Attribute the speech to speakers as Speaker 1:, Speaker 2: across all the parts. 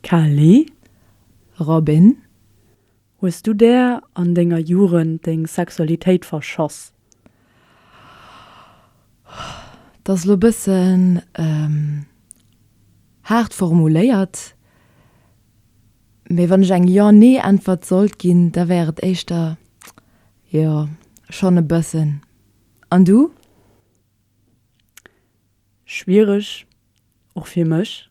Speaker 1: Kelly,
Speaker 2: Robin,
Speaker 1: hues du der an denger Jugend deng Sexualitéit verschoss?
Speaker 2: Dat ass elo e bëssen haart formuléiert, mee wann ech eng Jo-Nee-Äntwert sollt ginn, da wär et éischter jo, schonn e bëssen. An du?
Speaker 1: Schwiereg, och fir mech.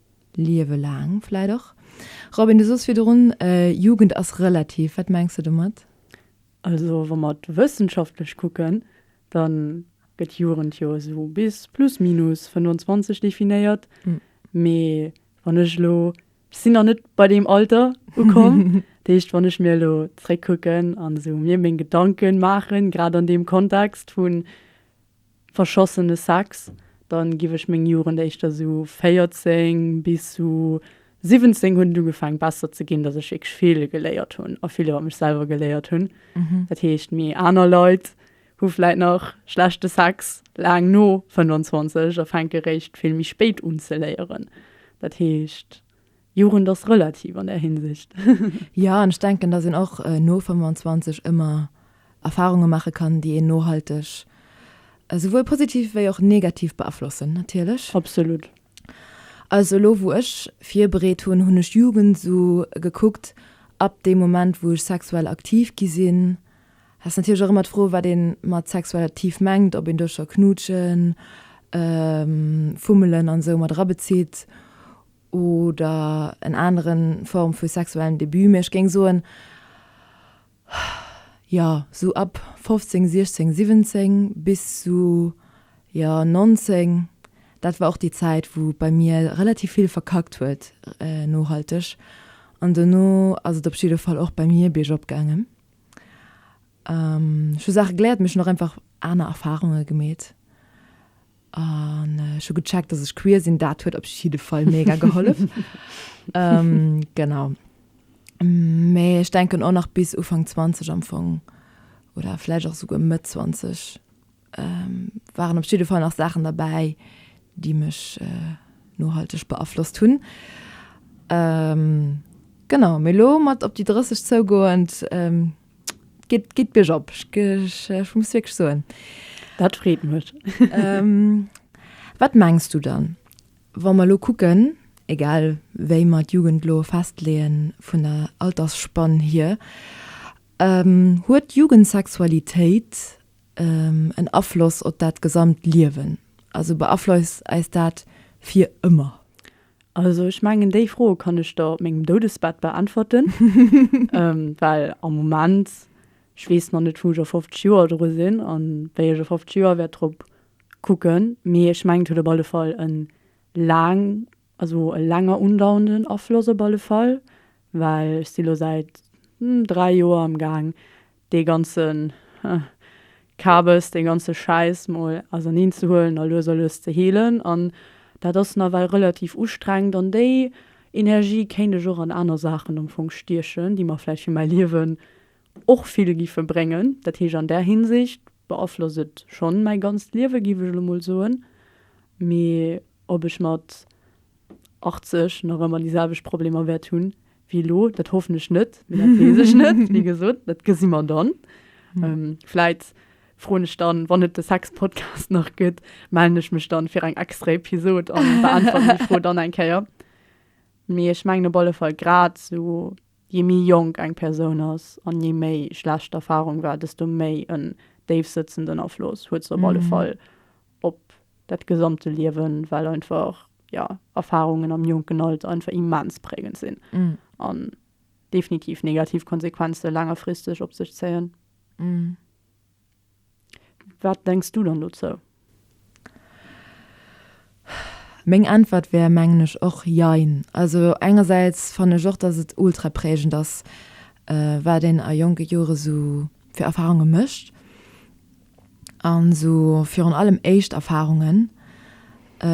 Speaker 2: Liewe laang vläit och. Robin, du soos virdrun, Jugend ass relativ. Wat mengs de domat? Also
Speaker 1: wa mer et wëssenschaftlech kucken, da gëtt Jugend jo esou bis plus minus 25 definéiert. Mee wann ech elo, ech sinn nach net bei deem Alter ukomm, dat heescht wann ech mir elo zréckkucken an esou mir meng Gedanke maachen, grad an deem Kontext vun verschossene Sex, dann giff ech meng Jugend éischter su 14 bis su 17 hun et ugefaang besser ze gin, dass ech wierklech vill geléiert hun a vill iwwer mech selwer geléiert hun. Dat heescht mi aner Leit hu vläit nach schlechte Sex laang no 25 a fänke réischt vill méi spéit un ze léieren. Dat heescht. Jugend ass relativ an där Hinsicht. Jo, an ech
Speaker 2: denken, datt een och no 25 ëmmer Erfarunge maache kann, déi een nohalteg esouwuel positiv wéi och negativ beaflossen, natierlech. Absolut.
Speaker 1: Also
Speaker 2: elo wou ech virbereet hunn, hunn ech Jugend esou gekuckt, ab deem Moment wou ech sexuell aktiv gi sinn. Dat ass natierlech och ëmmer d'Fro wat ee mat sexuell aktiv mengt, ob een do scho knuutschen, fummelen an esou mat erabezitt oder en aneren Form vu sexuellen Debut, mee ech géing soen, jo, sou ab 15, 16, 17 bis sou, jo, 19, dat war och déi Zäit, wou et bei mir relativ vill verkackt huet, nohalteg, an dono ass et op jidde Fall och bei mir biergop gaangen. Ech hu Saache geléiert, mee ech hunn och einfach aner Erfarunge gemeet. An ech hu gecheckt, dass ech queer sinn, dat huet op jidde Fall mega gehollef. ähm, genau. Mee ech denken och nach bis Ufang 20 am Fong oder vläch och souguer Mëtt 20 ähm, waren op jidde Fall nach Saachen derbäi, déi mech äh, nohalteg beaflosst hunn. Ähm, genau, mee lo mat op déi 30 zougoend, ähm, Geht, geht Birch op, ich, ich, ich muss wirklich soen. Dat freet
Speaker 1: mech. ähm,
Speaker 2: wat mengst du dann, wa mer lo kucken, egal wéi mer d'Jugend lo festleeën vun der Altersspann hier, ähm, huet d'Jugendsexualitéit ähm, en Afloss op dat gesamt Liewen? Also beafloisst eis dat fir ëmmer? Also ech
Speaker 1: mengen déi Froe kann ech der op mengem Doudesbett beäntwerten, well am Moment, ech weess nach net wou ech a 50 Joer dru sinn an wéi ech a 50 Joer wäert drop kucken, mee ech mengen et huet op alle Fall en laang, also e langer undauernden Afloss op alle Fall, well ech si lo säit 3 Joer am gaang dee ganzen Kabes, dee ganze Schäiss mol auserneen ze huelen a lues a lues ze heelen. An dat ass nawell relativ ustrengend. An déi Energie kéint ech och an aner Saachen am Fong stiechen, déi mer vläicht fir mäi Liewen och vill géife bréngen. Dat heescht, an där Hinsicht beaflosst et schonn mäi ganzt Liewe, géif ech elo mol soen. Mee ob ech mat. 80 nach ëmmer déi selwecht Problemer wäert hunn wéi elo. Dat hoffen ech net, mee dat weess ech net. Wéi gesot, dat gesi mer dann. Vläit froen ech dann, wann et de Sex-Podcast nach gëtt, mellen ech mech dann fir eng extra Episod a beäntweren déi Fro dann eng Kéier. Mee ech mengen op alle Fall, grad esou jee méi jonk eng Persoun ass an jee méi schlecht d'Erfarung war, desto méi en déifsëtzenden Afloss huet se op alle Fall op dat gesamte Liewen, well einfach ja Erfahrungen am jonken Alter einfach immens prägend sinn mm. an definitiv negativ Konsequenze längerfristeg op sech zéien. Mm. Wat denkst du dann dozou?
Speaker 2: Meng Äntwert wär mengen ech och jein. Also engersäits fan ech och, dass et ultra prägend ass, äh, wat een a jonke Jore sou fir Erfahrunge mécht. an esou virun allem éischt Erfahrungen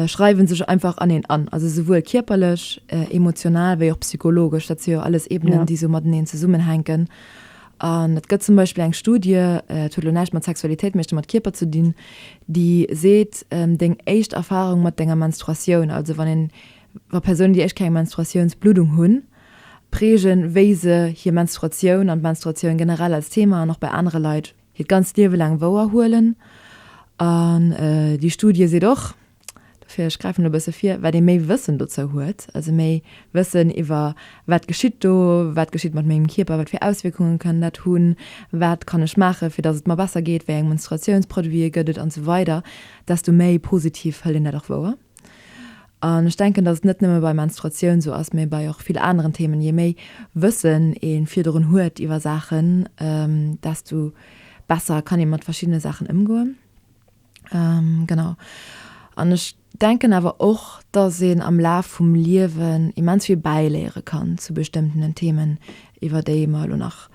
Speaker 2: schreiwen sech einfach an een an, also souwuel kierperlech, emotional wéi och psychologesch. Dat si jo alles Ebenen, ja. déi esou mateneen zesummenhänken. An et gëtt zum Beispill eng Studie, et huet elo näischt mat Sexualitéit, mee mat Kierper ze dinn, déi seet, deng éischt Erfahrung mat denger Menstruatioun, also wann een, wa Persounen déi éischt keng Menstruatiounsbluddung hunn, prägen, wéi se hir Menstruatioun an d'Menstruatioun generell als Thema an och bei anere Leit hiert ganzt Liewe laang wouer huelen. An déi Studie seet och, dofir ech gräifen elo e bësse vir, wat ee méi Wëssen dozou huet, also méi Wëssen iwwer wat geschitt do, wat geschitt mat mengem Kierper, wat fir Auswierkungen kann dat hunn, wat kann ech maachen, fir datt et mer besser geet, wéi eng Menstruatiounsproduite gëtt et an esou weider, desto méi positiv hëlt een dat och wouer. An ech denken, dass et net nëmme bei Menstruatioun esou ass, mä bei och vill aneren Themen. Je méi Wëssen ee virdrun huet iwwer Saachen, desto besser kann ee mat verschiddene Saachen ëmgoen. Genau. An ech denken awer och, dass een am Laf vum Liewen immens vill bäiléiere kann zu bestëmmtenen Themen, iwwer déi mer elo nach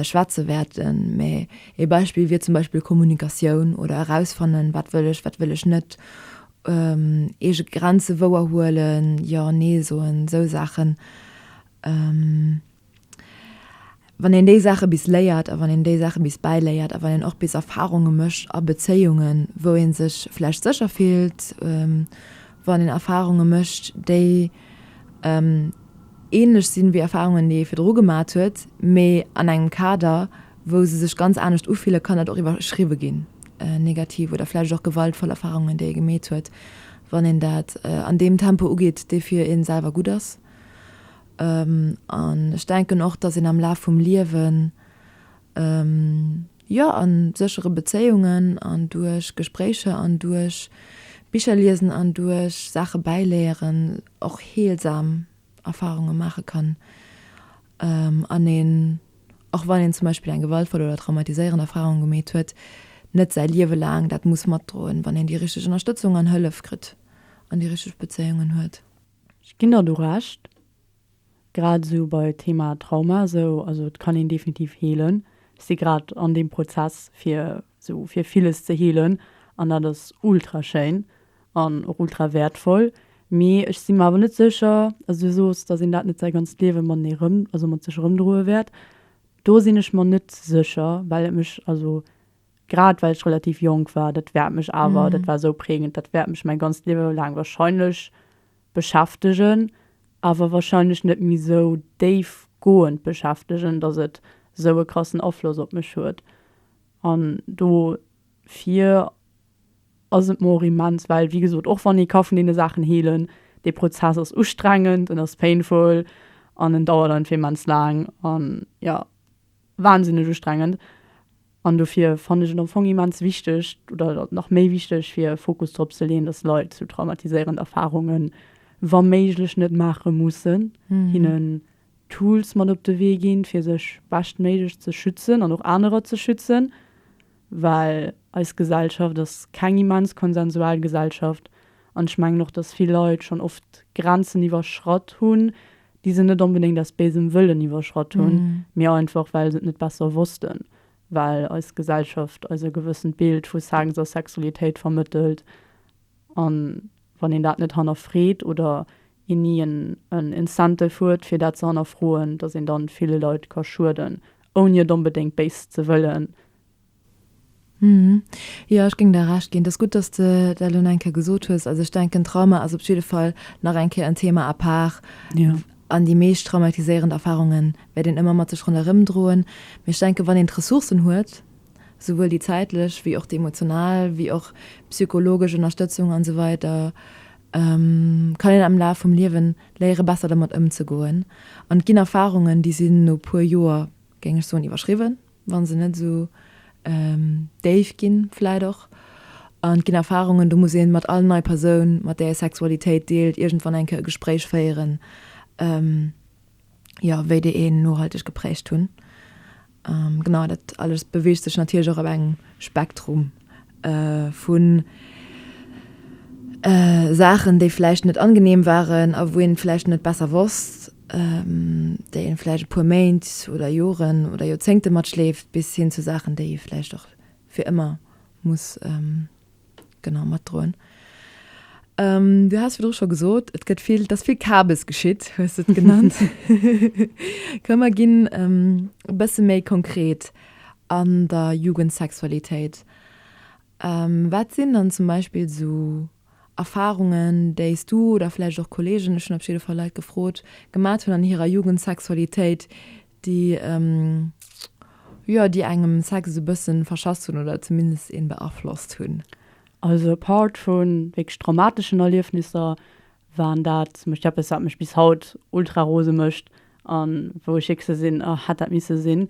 Speaker 2: schwätze wäerten. Mä ee Beispill wier zum Beispill Kommunikatioun oder erausfannen, wat wëll ech, wat wëll ech net. Eege Grenze wouer huelen, Jo, Nee soen, esou Saachen. Wann een déi Saache bis léiert a wann een déi Saache bis bäiléiert a wann een och bis Erfarunge mécht a Bezéiungen, wou ee sech vläicht sécher fillt, wann een Erfarunge mécht, déi änlech sinn, wéi Erfarungen, déi ee virdru gemaat huet, mee an engem Kader, wou se sech ganz anescht ufillen, kann dat och iwwerschriwwe ginn. negativ oder vläicht och gewaltvoll Erfarungen, déi ee gemeet huet, wann een dat an deem Tempo ugeet, dee fir ee selwer gutt ass. An ech denken och, datt een am Laf vum Liewen, jo, a séchere Bezéiungen an duerch Gespréicher an duerch Bicher liesen an duerch Saache bäiléieren, och heelsam Erfarunge maache kann. an een, och wann een zum Beispill eng gewaltvoll oder traumatiséierend Erfarung gemeet huet, net säi Liewe laang dat muss matdroen, wann een déi richteg Ënnerstëtzung an Hëllef kritt an déi richteg Bezéiungen huet. Ech ginn der do
Speaker 1: Recht, grad esou bei Thema Trauma esou, also et kann een definitiv heelen. Ech si grad an deem Prozess fir esou fir villes ze heelen an dat ass ultra schéin, An och ultra wäertvoll. Mee ech si mer awer net sécher, as du sos, datt een dat net säi ganzt Liewe matenee erëm, also mat sech erëmdroe wäert. Do sinn ech mer net sécher, well et mech, also grad well ech relativ jonk war, dat wäert mech awer, dat war esou prägend, dat wäert mech mäi ganzt Liewe laang wahrscheinlech beschäftegen. Awer wahrscheinlech net méi esou déifgoend beschäftegen, datt et esou e krassen Afloss op mech huet. An do Fir ass et mer och immens, well wéi gesot, och wann ee ka vun deene Saachen heelen, dee Prozess ass ustrengend, en ass painful an en dauert einfach immens laang an jo, wahnsinneg ustrengend. An dofir fannen ech et am Fong immens wichteg oder nach méi wichteg fir Fokus drop ze leeën, dass Leit sou traumatiséierend Erfarungen wa méiglech net maache mussen, hinnen Tools mat op de Wee ginn, fir sech beschtméiglech ze schützen an och anerer ze schützen, well eis Gesellschaft ass keng immens konsensual Gesellschaft an ech mengen och, dass vill Leit schonn oft Grenzen iwwerschratt hunn, déi se net onbedéngt aus béisem Wëllen iwwerschratt hunn, mee einfach well se et net besser wossten, well eis Gesellschaft eis e gewëssent Bild vu Sex a Sexualitéit vermëttelt A wann een dat net hannerfreet oder een ni en Incentive huet, fir dat ze hannerfroen, dass een dann ville Leit ka schueden, ouni et onbedéngt béis ze wëllen.
Speaker 2: Jo, ech géing der Recht ginn. Et ass gutt, dass de dat elo nach eng Kéier gesot hues. Also ech denken, Trauma ass op jidde Fall nach eng Kéier en Thema à part. An
Speaker 1: déi meescht
Speaker 2: traumatiséierend Erfarunge wäert een ëmmer mat sech ronderëmdroen. Mee ech denke wann een d'Ressourcen huet, souwuel déi zäitlech wéi och déi emotional wéi och psychologesch Ënnerstëtzung an esou weider kann een am Laf vum Liewen léiere besser dermat ëmzegoen an et ginn Erfarungen déi sinn no puer Joer géing ech soen iwwerschriwwen wann se net esou déif ginn vläit och an et ginn Erfarungen do muss een mat all nei Persoun mat där ee Sexualitéit deelt iergendwann eng Kéier e Gespréich féieren. ja, wéi déi een nohalteg geprägt hunn. Ähm, genau, dat alles beweegt sech natierlech och op engem Spektrum äh, vun äh, Saachen, déi vläicht net angenehm waren a wou een et vläicht net besser wosst, ähm, déi een vläicht e puer Méint oder Joren oder Joerzéngte matschleeft, bis hin zu Saachen, déi ee vläicht och fir ëmmer muss ähm, genau matdroen. Ähm, du hast virdru scho gesot, et gëtt vill, dass vill Kabes geschitt, hues du genannt. Kann man ginn ähm, e bësse méi konkret an der Jugendsexualitéit. Ähm, wat sinn dann zum Beispiel so Erfahrungen, déis du oder vläicht och Kollegen, ech hunn op jidde Fall Leit gefrot, gemat hunn an hirer Jugendsexualitéit, déi jo déi engem Sex esou bëssen verschass hunn oder zumindest een beaflosst hunn. Also apart
Speaker 1: vun wierklech traumateschen Erliefnisser waren dat zum Beispill eppes wat mech bis haut ultra rose mécht an wou ech wierklech sou sinn oh hätt dat misse sinn.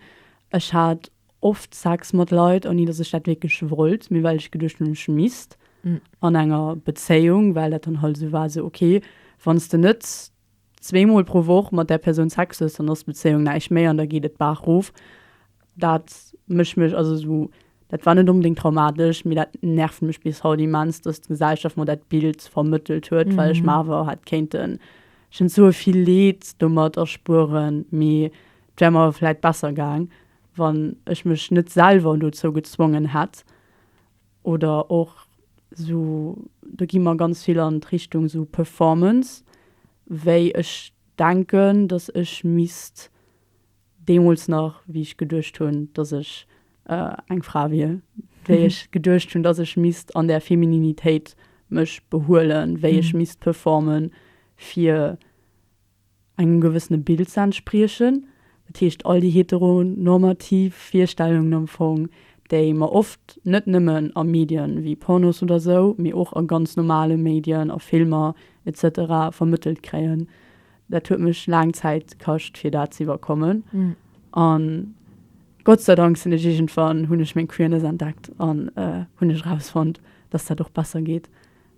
Speaker 1: Ech hat oft Sex mat Leit ouni dass ech dat wierklech wollt mee well ech geduecht hunn ech misst an enger Bezéiung well dat dann halt esou war sou ok wann s de net zwee mol pro Woch mat där Persoun Sex hues, dann ass d'Bezéiung näischt méi an da geet et d'Baach rof. Dat mécht mech, also esou, dat war net onbedéngt traumatesch, mee dat nervt mech bis haut immens, datt d'Gesellschaft mer dat Bild vermëttelt huet, well ech mer awer hätt kéinten, ech kéint soe vill Leed domat erspueren, mee et wär mer vläit besser gaang, wann ech mech net selwer dozou gezwongen hätt. Oder och esou, do gi mer ganz vill an d'Richtung esou Performance, wéi ech denken, datt ech misst deemools nach, wéi ech geduecht hunn, datt ech eng Fra wier, wéi ech geduecht hunn, datt ech misst an där Femininitéit mech behuelen, wéi ech misst performen, fir. engem gewëssene Bild ze entspriechen. Dat heescht, all déi heteronormativ Virstellungen am Fong, déi mer oft net nëmmen a Medien wéi Pornos oder esou, mee och a ganz normale Medien, a Filmer et cetera vermëttelt kréien. Dat huet mech laang Zäit kascht, fir dat ze iwwerkommen. An Gott sei Dank sinn ech iergendwann, hunn ech meng Queerness entdeckt an hunn ech erausfonnt, dass dat och besser geet.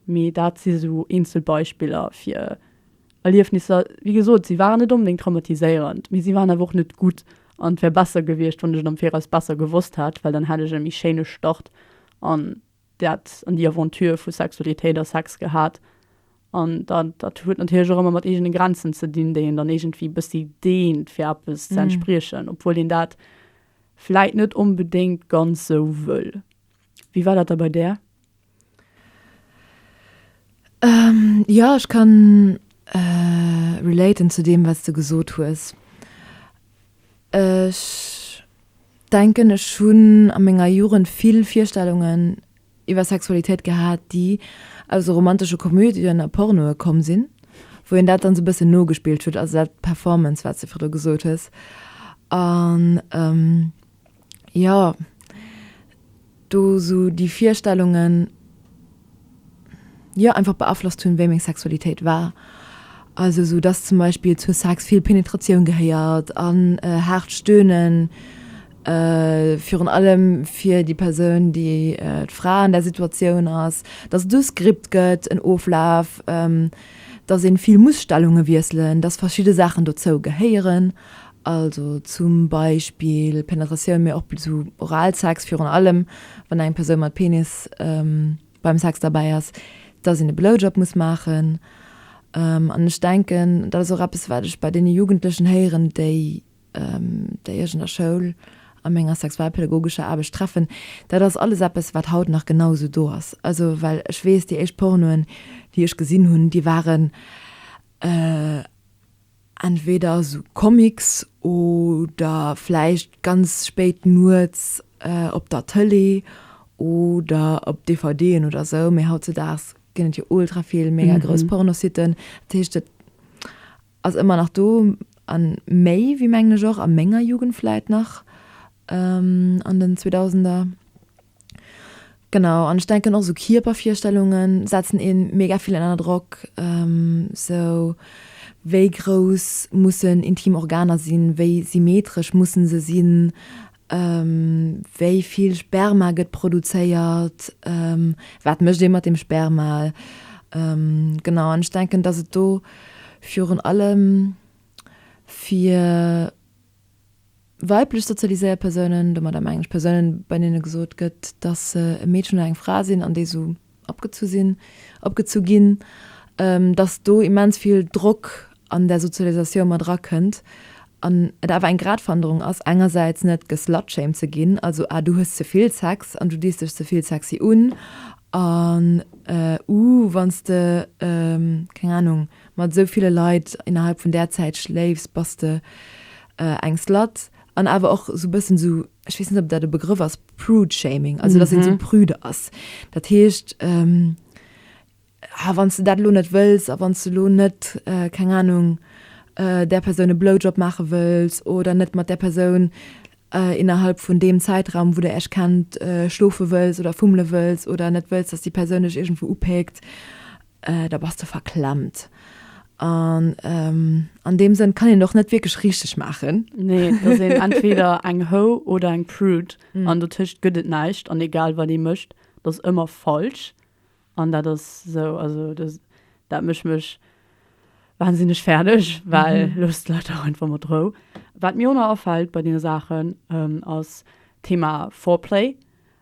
Speaker 1: Mee dat si sou eenzel Beispiller, fir Erliefnisser, wéi gesot, si waren net onbedéngt traumatiséierend, mee si waren awer och net gutt. An et wär besser gewiescht, wann ech et am Viraus besser gewosst hätt, well dann hätt ech e méi schéine Start an dat, an déi Aventure vu Sexualitéit a Sex gehat. An dat, dat huet natierlech och ëmmer mat eegene Grenzen ze dinn, déi een dann iergendwéi e bëssi deent, fir eppes ze entspriechen, obwuel een dat vläit net onbedéngt ganz sou wëll. Wéi war dat da bei där?
Speaker 2: Jo, ech kann relaten zu deem wat s de gesot hues. Ech denken ech hunn a menger Jugend vill Virstellungen iwwer Sexualitéit gehat, déi aus esou romantesche Komödien a Pornoe komm sinn, wou een dat dann esou bëssen nogespillt huet, also dat Performance wat s de virdru gesot hues. An jo do sou déi Virstellungen jo einfach beaflosst hunn, wéi meng Sexualitéit war. Also sou dass zum Beispill zu Sex vill Penetratioun gehéiert an haart Stöhnen, virun allem fir déi Persoun, déi d'Fra an där Situatioun ass, dass et do Skript gëtt, en Oflaf, dass ee vill muss Stellunge wiesselen, dass verschidde Saachen dozou gehéieren. Also zum Beispill Penetratioun, mee och sou Oralsex, virun allem wann eng Persoun mat Penis beim Sex derbäi ass, dass een e Blowjob muss maachen. An ech denken dat ass och eppes wat ech bei deene Jugendlechen héieren, déi déi ech an der Schoul a menger sexualpädagogescher Aarbecht treffen. Dat ass alles eppes wat haut nach genau esou do ass. Also well ech weess déi éischt Pornoen déi ech gesinn hunn, déi waren Entweder sou Comics oder vläicht ganz spéit nuets op der Tëlee oder op DVDen oder sou. Mee hautzedaags ginn et jo ultra vill mega grouss Pornositten. Dat heescht, et ass ëmmer nach do a méi wéi, mengen ech, och a menger Jugend vläicht nach an den Zweedausender. Genau an ech denken och sou Kierpervirstellungen setzen een mega vill ënner Drock sou wéi grouss mussen intim Organer sinn, wéi symmetresch mussen se sinn, wéi vill Sperma gëtt produzéiert, wat mécht ee mat dem Sperma. Genau an ech denken datt et do virun allem fir Weiblech sozialiséiert Persounen, domadder mengen ech Persounen, bei deene gesot gëtt, datt se e Meedchen oder eng Fra sinn an déi esou opgezu sinn, opgezu ginn, datt do immens vill Drock an där Sozialisatioun mat erakënnt an et awer eng Gradwanderung ass, engersäits net geslutshamed ze ginn, also ah du hues ze vill Sex an du dis dech ze vill sexy un an uh wann s de, keng Anung, Mat esou ville Leit innerhalb vun där Zäit schléifs, bass de eng Slut an awer och esou e bëssen esou, ech weess net, ob dat e Begrëff ass, Prude-Shaming, also dass een esou prüde ass. Dat heescht, ah, wann s de dat elo net wëlls a wann s de elo net, keng Anung, där Persoun e Blowjob maache wëlls oder net mat där Persoun innerhalb vun deem Zäitraum, wou der iech kennt, schlofe wëlls oder fummele wëlls oder net wëlls, dass déi Persoun dech iergendwou upéckt, da bass de verklemmt. An ähm, an deem Sënn kann een och net wierklech richteg maachen. Nee, et ass een
Speaker 1: entweder eng Ho oder eng Prude an dotëscht gëtt et näischt. An egal wat ee mécht, et ass ëmmer falsch. An dat ass esou, also dat dat mécht mech wahnsinneg fäerdeg, well loosst d'Leit dach einfach mat Rou. Wat mir och nach afält bei deene Saachen ass d'Thema Foreplay.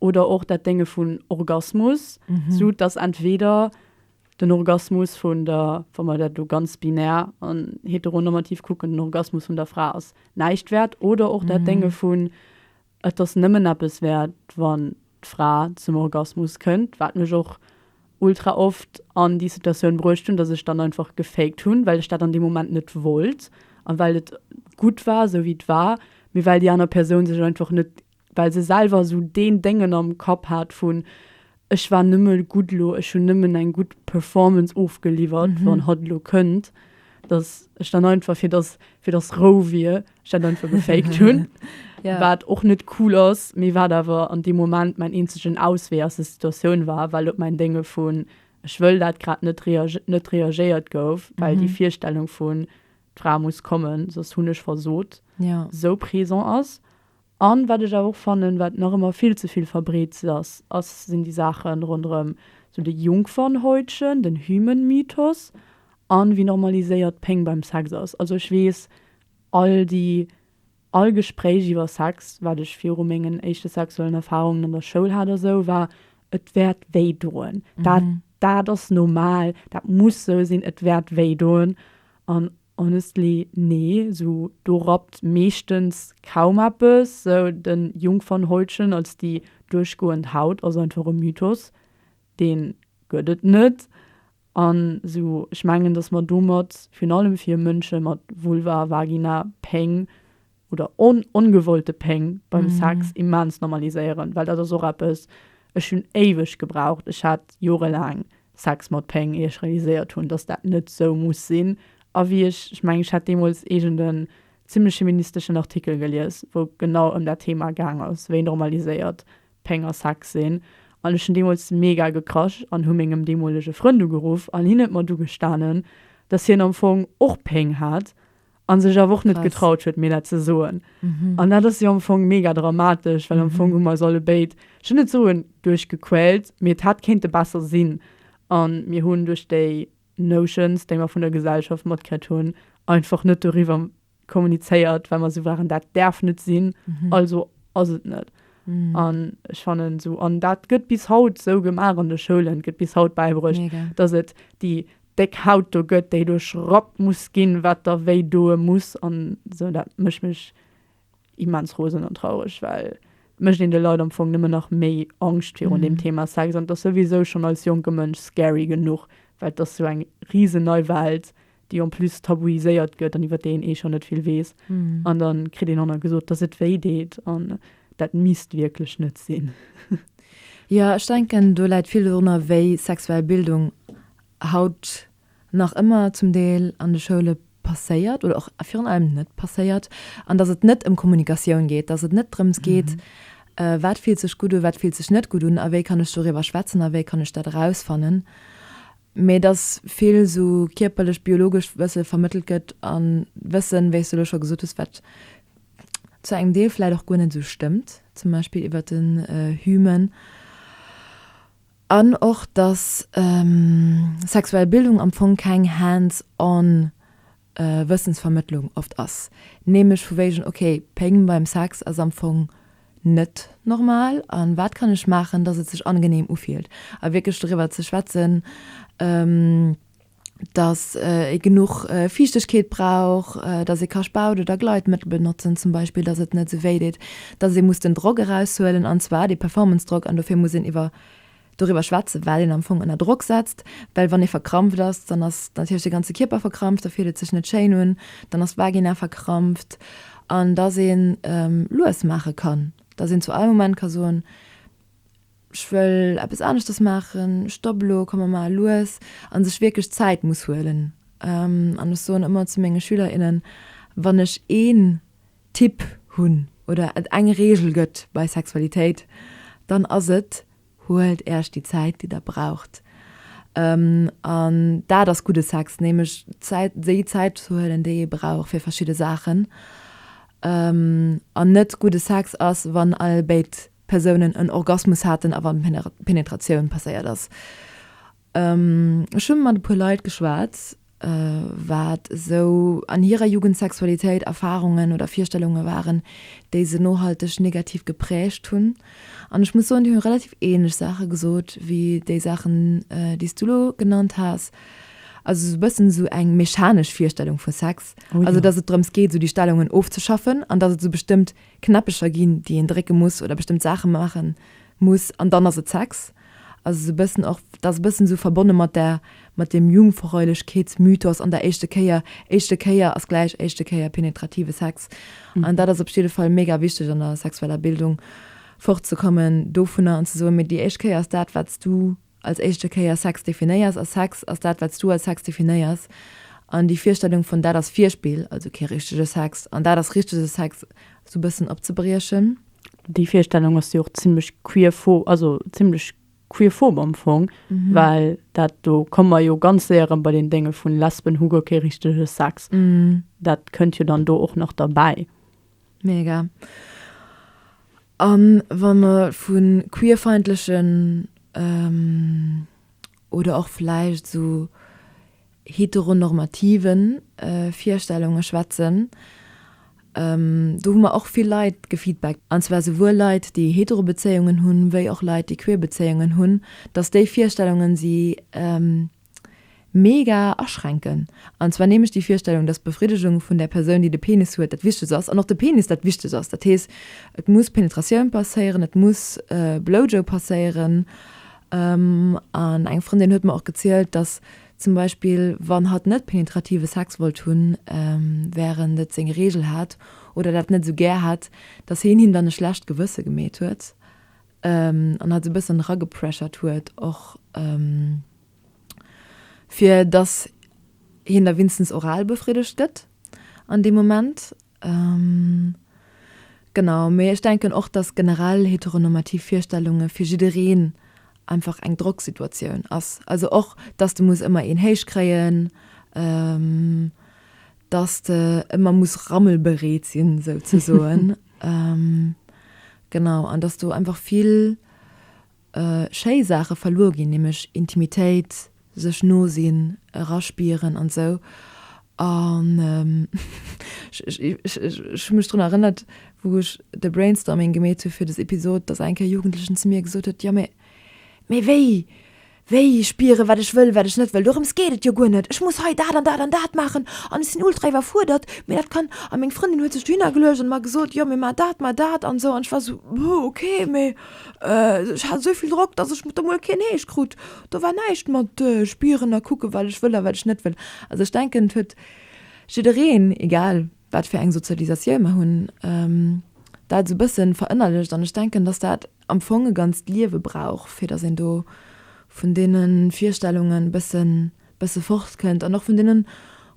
Speaker 1: oder och dat Dénge vun Orgasmus, sou dass entweder den Orgasmus vun der, wa mer dat elo ganz binär an heteronormativ kucken, den Orgasmus vun der Fra ass näischt wäert, oder och dat Dénge vun et ass nëmmen eppes wäert, wann d'Fra zum Orgasmus kënnt, wat mech och ultra oft an déi Situatioun bruecht hunn, dass ech dann einfach gefaked hunn, well ech dat an deem Moment net wollt a well et gutt war, sou wéi et war, mee well déi aner Persoun sech einfach net well se selwer esou deen Déngen am Kapp hat vun, Ech war nëmme gutt elo, ech hunn nëmmen eng gutt Performance ofgeliwwert, wann hatt elo kënnt, datt ech dann einfach, fir datt fir datt Rou wier, ech dat einfach gefaked hunn. Wat och net cool ass, mee wat awer an deem Moment mäin eenzegen Auswee aus der Situatioun war, well op mäin Dénge vun, Ech wëll dat grad net net reagéiert gouf, well déi Virstellung vun, D'Fra muss kommen, soss hunn ech versot, esou présent ass. A wat ech awer och fannen, wat nach ëmmer vill ze vill verbreet ass, ass, sinn déi Saache ronderëm sou de Jungfernhäutchen, den Hymen-Mythos a wéi normaliséiert Péng beim Sex ass. Also ech weess, all déi, all Gespréich iwwer Sex, wat ech viru mengen éischte sexuellen Erfarungen an der Schoul hat a sou, war, Et wäert wéi doen. Dat, dat ass normal. Dat muss sou sinn. Et wäert wéi doen. An Honestly nee, sou do rappt meeschtens kaum eppes. Sou den Jungfernhäutchen als déi duerchgoend Haut ass einfach e Mythos, deen gëtt et net. An sou ech mengen dass mer domat virun allem fir Mënsche mat Vulva, Vagina, Péng. oder on ongewollte Péng beim Sex immens normaliséieren, well dat ass och eppes, ech hunn éiweg gebraucht, ech hat jorelaang Sex mat Péng, ier ech realiséiert hunn, dass dat net sou muss sinn. A wéi ech, ech mengen, ech hat deemools iergend en zimlech feministeschen Artikel gelies, wou et genau ëm dat Thema gaang ass, wéi normaliséiert Péng a Sex sinn, an ech hunn deemools mega gekrasch an hu mengem deemolege Frënd ugeruff an hien huet mer du gestanen, dass hien am Fong och Péng hat an sech awer och net getraut huet mir dat ze soen an dat ass jo am Fong mega dramatesch, well am Fong hu mer eis alle béid, ech wëll net soen duerchgequält, mee et hätt kéinte besser sinn a mir hunn duerch déi Notions, déi mer vun der Gesellschaft matkritt hunn, einfach net doriwwer kommunizéiert, well mer esou waren, dat däerf net sinn, also ass et net. An ech fannen esou, an dat gëtt bis haut esou gemaach an de Schoulen, et gëtt bis haut bäibruecht, datt et déi Déck Haut do gëtt, déi do schrappt muss ginn, wat der wéi doe muss an esou. Dat mécht mech immens rosen an traureg, well et mécht een de Leit am Fong nëmmen nach méi Angscht virun deem Thema Sex an et ass souwisou schonn als jonke Mënsch scary genuch, well et ass esou eng risen nei Welt, déi en plus tabuiséiert gëtt an iwwer déi een eh schonn net vill weess an da kritt een och nach gesot, dass et wéi deet an dat misst wierklech net sinn.
Speaker 2: Jo, ech denken do läit vill dorunner, wéi sexuell Bildung haut nach ëmmer zum Deel an de Schoule passéiert oder och virun allem net passéiert, an datt et net ëm Kommunikatioun geet, datt et net drëms geet, wat fillt sech gutt u, wat fillt sech net gutt un a wéi kann ech doriwwer schwätzen a wéi kann ech dat erausfannen, mee datt vill esou kierperlech, biologescht Wësse vermëttelt gëtt a Wëssen, wéi s de elo scho gesot hues, wat zu engem Deel vläicht och guer net esou stëmmt, zum Beispill iwwert den Hymen. An och, dass sexuell Bildung am Fong keng hands on Wëssensvermëttlung oft ass, nämlech vu wéigen, okay, Péng beim Sex ass am Fong net normal a wat kann ech maachen, dass et sech angenehm ufillt a wierklech doriwwer ze schwätzen. dass ee genuch Fiichtegkeet brauch, dass ee ka Spaut oder Gleitmëttel benotzen zum Beispill, dass et net esou wéi deet, dass ee muss den Drock eraushuelen, an zwar dee Performance-Drock, an dofir muss een iwwer, doriwwer schwätzen, well een am Fong ënner Drock setzt, well wann ee verkrampft ass, dann ass natierlech de ganze Kierper verkrampft, da fillt et sech net schéin un, dann ass d'Vagina verkrampft, an dass ee lues maache kann, dass een zu all Moment ka soen. ech wëll eppes aneschters maachen, stopp elo, komm mer maache lues, a sech wierklech Zäit muss huelen. An ech soen ëmmer zu menge Schüler, innen, wann ech een Tipp hunn oder et eng Reegel gëtt bei Sexualitéit, dann ass et, Huelt Äerch déi Zäit, déi Der braucht. An dat ass gudde Sex, nämlech Zäit, déi Zäit ze huelen, déi ee brauch fir verschidde Saachen. An net gudde Sex ass, wann all béid Persounen en Orgasmus haten a wann d'Penetratioun passéiert ass. Ech hu mat e puer Leit geschwat, wat esou an hirer Jugend Sexualitéit, Erfarungen oder Virstellunge waren, déi se nohalteg negativ geprägt hunn. An ech muss soen, déi hu relativ ähnlech Saache gesot wéi déi Saachen, déi s du elo genannt has. Also esou e bëssen esou eng mechanesch Virstellung vu Sex. Also datt et drëms
Speaker 1: geet, esou déi
Speaker 2: Stellungen ofzeschaffen an datt et esou bestëmmt Knäppecher ginn, déi een drécke muss oder bestëmmt Saache maache muss an dann ass et Sex. Ass esou e bëssen och, dat ass e bëssen esou verbonne mat där, mat deem Jungfräulichkeitsmythos an der éischte Kéier. Éischte Kéier ass gläich éischte Kéier penetrative Sex an dat ass op jidde Fall mega wichteg an der sexueller Bildung fortzekommen dovunner an ze soen, mee déi éischt Kéier ass dat, wat s du als éischte Kéier Sex definéiers, a Sex ass dat, wat s du als Sex definéiers, an déi Virstellung vun, dat ass Virspill, also kee richtege Sex, an dat ass richtege Sex, esou e bëssen opzebriechen. Déi Virstellung
Speaker 1: ass jo och zimmlech queerpho, also zimmlech queerphob am Fong, well dat, do komme mer jo ganz séier erëm bei den Dénge vu Lesben hu guer kee richtege Sex, dat kënnt jo dann do och nach derbäi. Mega.
Speaker 2: A wa mer vu queerfeindlechen oder och vläicht esou heteronormative Virstellunge schwätzen, do hu mer och vill Leit gefeedbackt, an zwar souwuel Leit, déi hetero Bezéiungen hunn, wéi och Leit, déi queer Bezéiungen hunn, datt déi Virstellungen si mega aschränken. An zwar nämlech déi Virstellung, dass d'Befriddegung vun där Persoun, déi de Penis huet, dat Wichtegst ass an och de Penis dat Wichtegst ass. Dat heescht, et muss Penetratioun passéieren, et muss Blowjob passéieren. An eng Frëndin huet mer och gezielt, dass zum Beispill, wann hatt net penetrative Sex wollt hunn, wärend et seng Reegel hat oder dat net esou gär hätt, dass hien him dann e schlecht Gewësse gemeet huet. an hat se e bëssen eragepressured huet och fir datt hien da winstens oral befriddegt gëtt an deem Moment. Genau, mee ech denken och, datt generell heteronormativ Virstellunge fir jiddereen einfach eng Drocksituatioun ass, also och datt de muss ëmmer een héich kréien, datt de ëmmer muss rammelbereet sinn souzesoen, Genau, an dass do einfach vill schéi Saache verluer ginn, nämlech Intimitéit, sech no sinn, eraspieren an esou. An ech hu mech drun erënnert, wou ech de Brainstorming gemeet hu fir des Episod, dass eng Kéier Jugendlechen zu mir gesot huet, Jo, mee wéi Wéi spieren, wat ech wëll, wat ech net wëll, dorëms geet et jo guer net. Ech muss hei dat an dat an dat maachen an ech sinn ultra iwwerfuerdert, mee dat kann. A meng Frëndin huet sech dohinner geluecht an mer gesot, jo, mee mar dat, mar dat an esou. An ech war esou, Buh, okay, mee ech hat esou vill Drock, dass ech do mol keen Heescht krut. Do war näischt mat spieren a kucken, wat ech wëll a wat ech net wëll. Also ech denken, et huet jiddereen, egal wat fir eng Sozialisatioun mer hunn, dat esou e bësse verënnerlecht an ech denken, dass dat, am Fong e ganzt Liewe brauch, fir datt een do vun deene Virstellungen e bëssen, bësse fortkënnt an och vun deene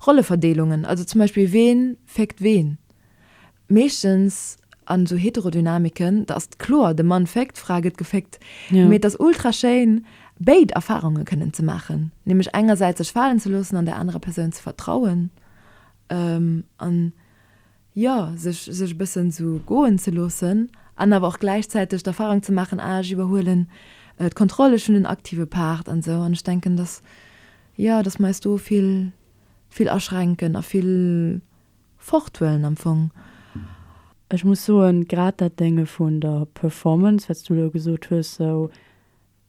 Speaker 2: Rolleverdeelungen. Also zum Beispill, ween féckt ween? Meeschtens an esou Heterodynamiken, da ass et kloer, de Mann féckt, d'Fra gëtt geféckt. Mee et ass ultra schéin, béid Erfarunge kënnen ze maachen, nämlech engersäits sech falen ze loossen an der anerer Persoun ze vertrauen an, jo sech sech e bëssen sou goen ze loossen an awer och gläichzäiteg d'Erfahrung ze maachen, ah ech iwwerhuelen d'Kontroll, ech hunn en aktive Part an esou an ech denken dass jo dass mer eis do vill vill aschränken a vill forthuelen am Fong. Ech
Speaker 1: muss soen grad dat Dénge vun der Performance wat s du elo gesot hues sou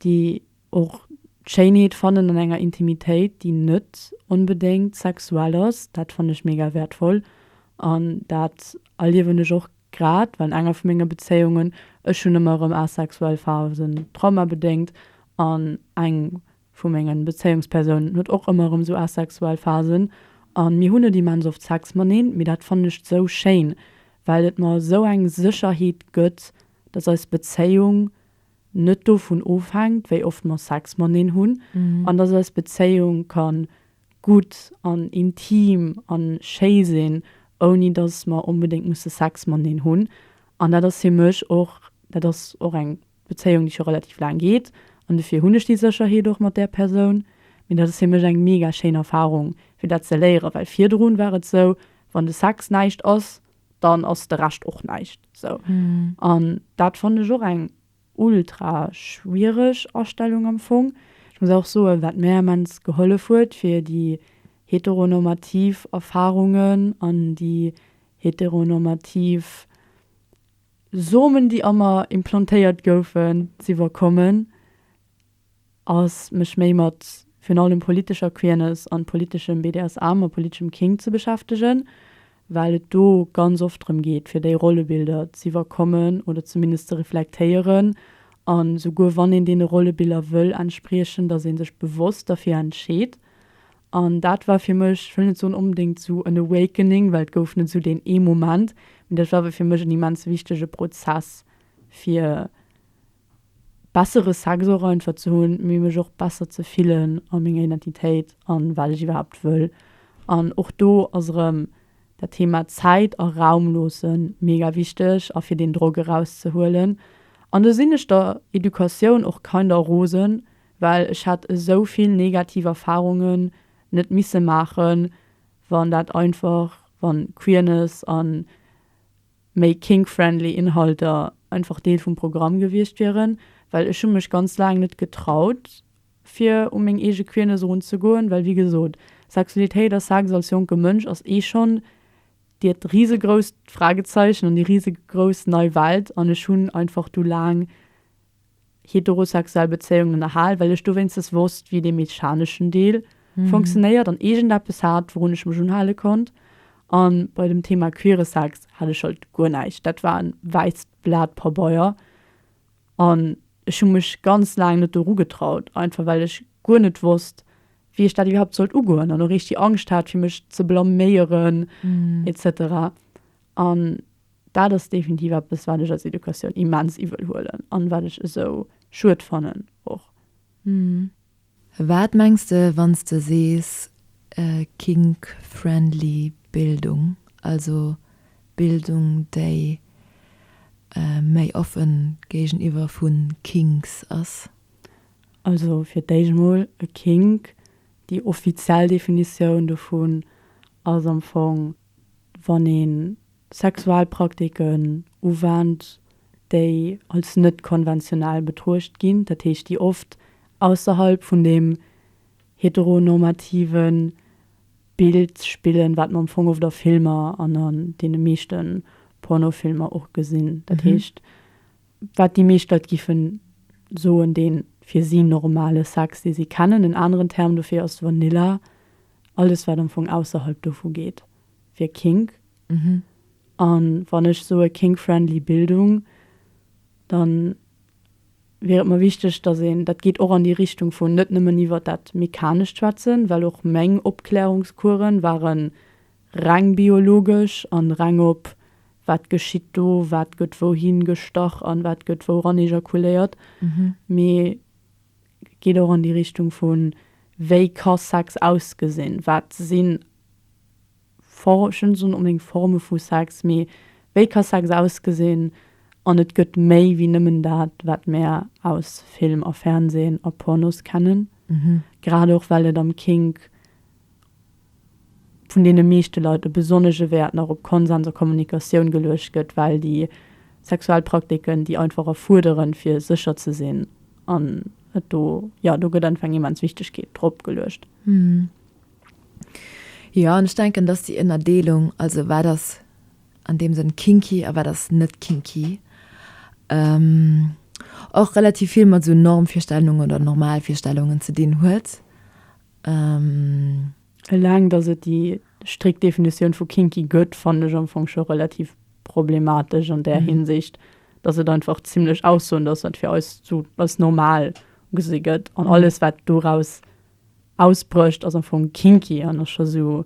Speaker 1: déi och d'Schéinheet fannen an enger Intimitéit, déi net onbedéngt sexuell ass, dat fannen ech mega wäertvoll an dat erliewen ech och grad, well an enger vu menge Bezéiungen, ech hunn ëmmer erëm asexuell Phasen, traumabedéngt, an eng vu menge Bezéiungspersounen huet och ëmmer erëm esou asexuell Phasen a mir hunn net immens oft Sex mateneen, mee dat fannen ech esou schéin, well et mer esou eng Sécherheet gëtt, dass eis Bezéiung. net dovun ofhänkt, wéi oft mer Sex mateneen hunn, an dass eis Bezéiung ka gutt an intim a schéi sinn, ouni dass mer onbedéngt musse Sex mateneen hunn. An dat ass fir mech och, dat ass och eng Bezéiung, déi scho relativ laang geet, an dofir hunn ech déi Sécherheet och mat där Persoun. Mee dat ass fir mech eng mega schéin Erfarung, fir dat ze léieren, well virdrun war et esou, wann de Sex näischt ass, dann ass de Rescht och näischt sou mm. An dat fannen ech och eng ultra schwiereg Astellung am Fong. Ech muss auch soen, wat mär immens gehollef huet fir déi heteronormativ Erfahrungen an déi heteronormativ Somen, déi a mer implantéiert goufen, z'iwwerkommen, ass mech méi mat virun allem politescher Queerness an politeschem BDSM a politeschem Kink ze beschäftegen, well et do ganz oft drëm geet fir déi Rollebilder z'iwwerkommen oder zumindest ze reflektéieren an souguer wann een deene Rollebiller wëll entspriechen, dass ee sech bewosst derfir entscheet. An dat war fir mech, ech wëll net soen onbedéngt esou en Awakening, well et gouf net esou deen ee Moment, mee dat war awer fir mech en immens wichtege Prozess fir, bessere Sex och einfach ze hunn, mee mech och besser ze fillen a menger Identitéit an wat ech iwwerhaapt wëll. An och do ass erëm dat Thema Zäit a Raum loosse mega wichteg a fir deen Drock eraus ze huelen. An do sinn ech der Educatioun och kinder rosen, well ech hätt esou vill negativ Erfarungen net misse maachen, wann dat einfach, wann Queerness an. méi kink-friendly Inhalter einfach Deel vum Programm gewiescht wieren, well ech hu mech ganz laang net getraut fir u meng eege Queerness erun ze goen, well wéi gesot, Sexualitéit a Sex als jonke Mënsch ass eh schonn dirt risegrousst Fragezeichen an déi risegrouss nei Welt an ech hunn einfach du laang heterosexuell Bezéiungen ënnerhal, well ech dowéinstens wosst, wéi dee mechaneschen Deel funktionéiert an iergendeppes hat, wourun ech mech unhale konnt. A bei dem Thema queere Sex hat ech halt guer näischt. Dat war e wäisst Blat Pabeier an ech hu mech ganz laang net doru getraut, einfach well ech guer net wosst, wéi ech dat iwwerhaapt sollt ugoen an och richteg Angscht hat, fir mech ze blaméieren et cetera an. Dat ass definitiv eppes, wat ech als Educatioun immens iwwel huelen an wat ech esou schued fannen och. Wat
Speaker 2: mengs de wann s de sees kink friendly Bildung, also Bildung déi méi offen géigeniwwer vun Kinks ass? Also
Speaker 1: fir d'éischt mol e Kink, déi offiziell Definitioun dovun ass am Fong wann ee Sexualpraktiken uwennt, déi als net konventionell betruecht ginn, dat heescht, déi oft ausserhalb vun deem heteronormative Bild spillen, wat mer am Fong oft a Filmer an an deene meeschte Pornofilmer och gesinn, dat heescht, wat déi meescht Leit géife soen, dee fir si normale Sex, dee si kennen. En aneren Term dofir ass Vanilla. Alles wat am Fong ausserhalb dovu geet wier Kink. An wann ech soe Kink-friendly Bildung, dann wier et mer wichteg dass een, dat geet och an déi Richtung vun net nëmmen iwwert dat Mechanescht schwätzen, well och meng Opklärungskueren waren reng biologesch an reng op wat geschitt do, wat gëtt wouhin gestach an wat gëtt wouran ejakuléiert, mee Geet och an déi Richtung vu wéi ka Sex ausgesinn, wat si Formen, ech wëll net soen onbedéngt Forme vu Sex, mee wéi ka Sex ausgesinn an et gëtt méi wéi nëmmen dat, wat mär aus Film a Fernsehen a Pornos kennen. Grad och well et am Kink vun deene meeschte Leit e besonnege Wäert nach op Konsens a Kommunikatioun geluecht gëtt, well déi sexuell Praktiken déi einfach erfuerderen, fir sécher ze sinn. An et do, jo, do gëtt einfach eng immens Wichtegkeet drop geluecht.
Speaker 2: Jo, an ech denken, dass déi Ënnerdeelung, also wat ass an deem Sënn kinky a wat ass net kinky, och relativ vill mat esou Normvirstellungen oder Normalvirstellungen ze dinn huet. Ëmm.
Speaker 1: Eleng dass et déi strikt Definitioun vu kinky gëtt, fannen ech am Fong scho relativ problematesch an där Hinsicht, dass et einfach zimmlech Aussoen ass, wat fir eis esou als normal ugesi gëtt. An alles wat doraus ausbrécht ass am Fong kinky an ass scho esou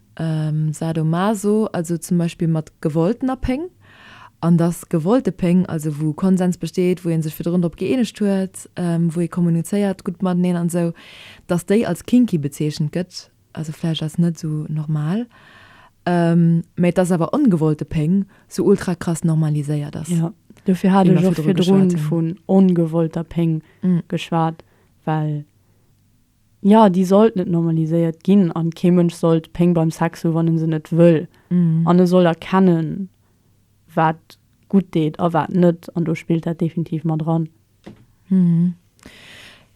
Speaker 2: Sadomaso, also zum Beispill mat gewolltener Péng, an dass gewollte Péng, also wou Konsens besteet, wou ee sech virdrun drop gëeenegt huet, wou ee kommunizéiert gutt mateneen an esou, dass déi als kinky bezeechent gëtt, also vläicht als net esou normal, mä dass awer ongewollte Péng sou ultra krass normaliséiert ass. Jo, dofir hat ech
Speaker 1: och virdrun vun
Speaker 2: ongewollter
Speaker 1: Péng geschwat, well Jo, déi sollt net normaliséiert ginn an kee Mënsch soll d'Péng beim Sex hu wann en se net wëll. An e soll erkennen wat gutt deet a wat net an do spillt dat definitiv mat eran.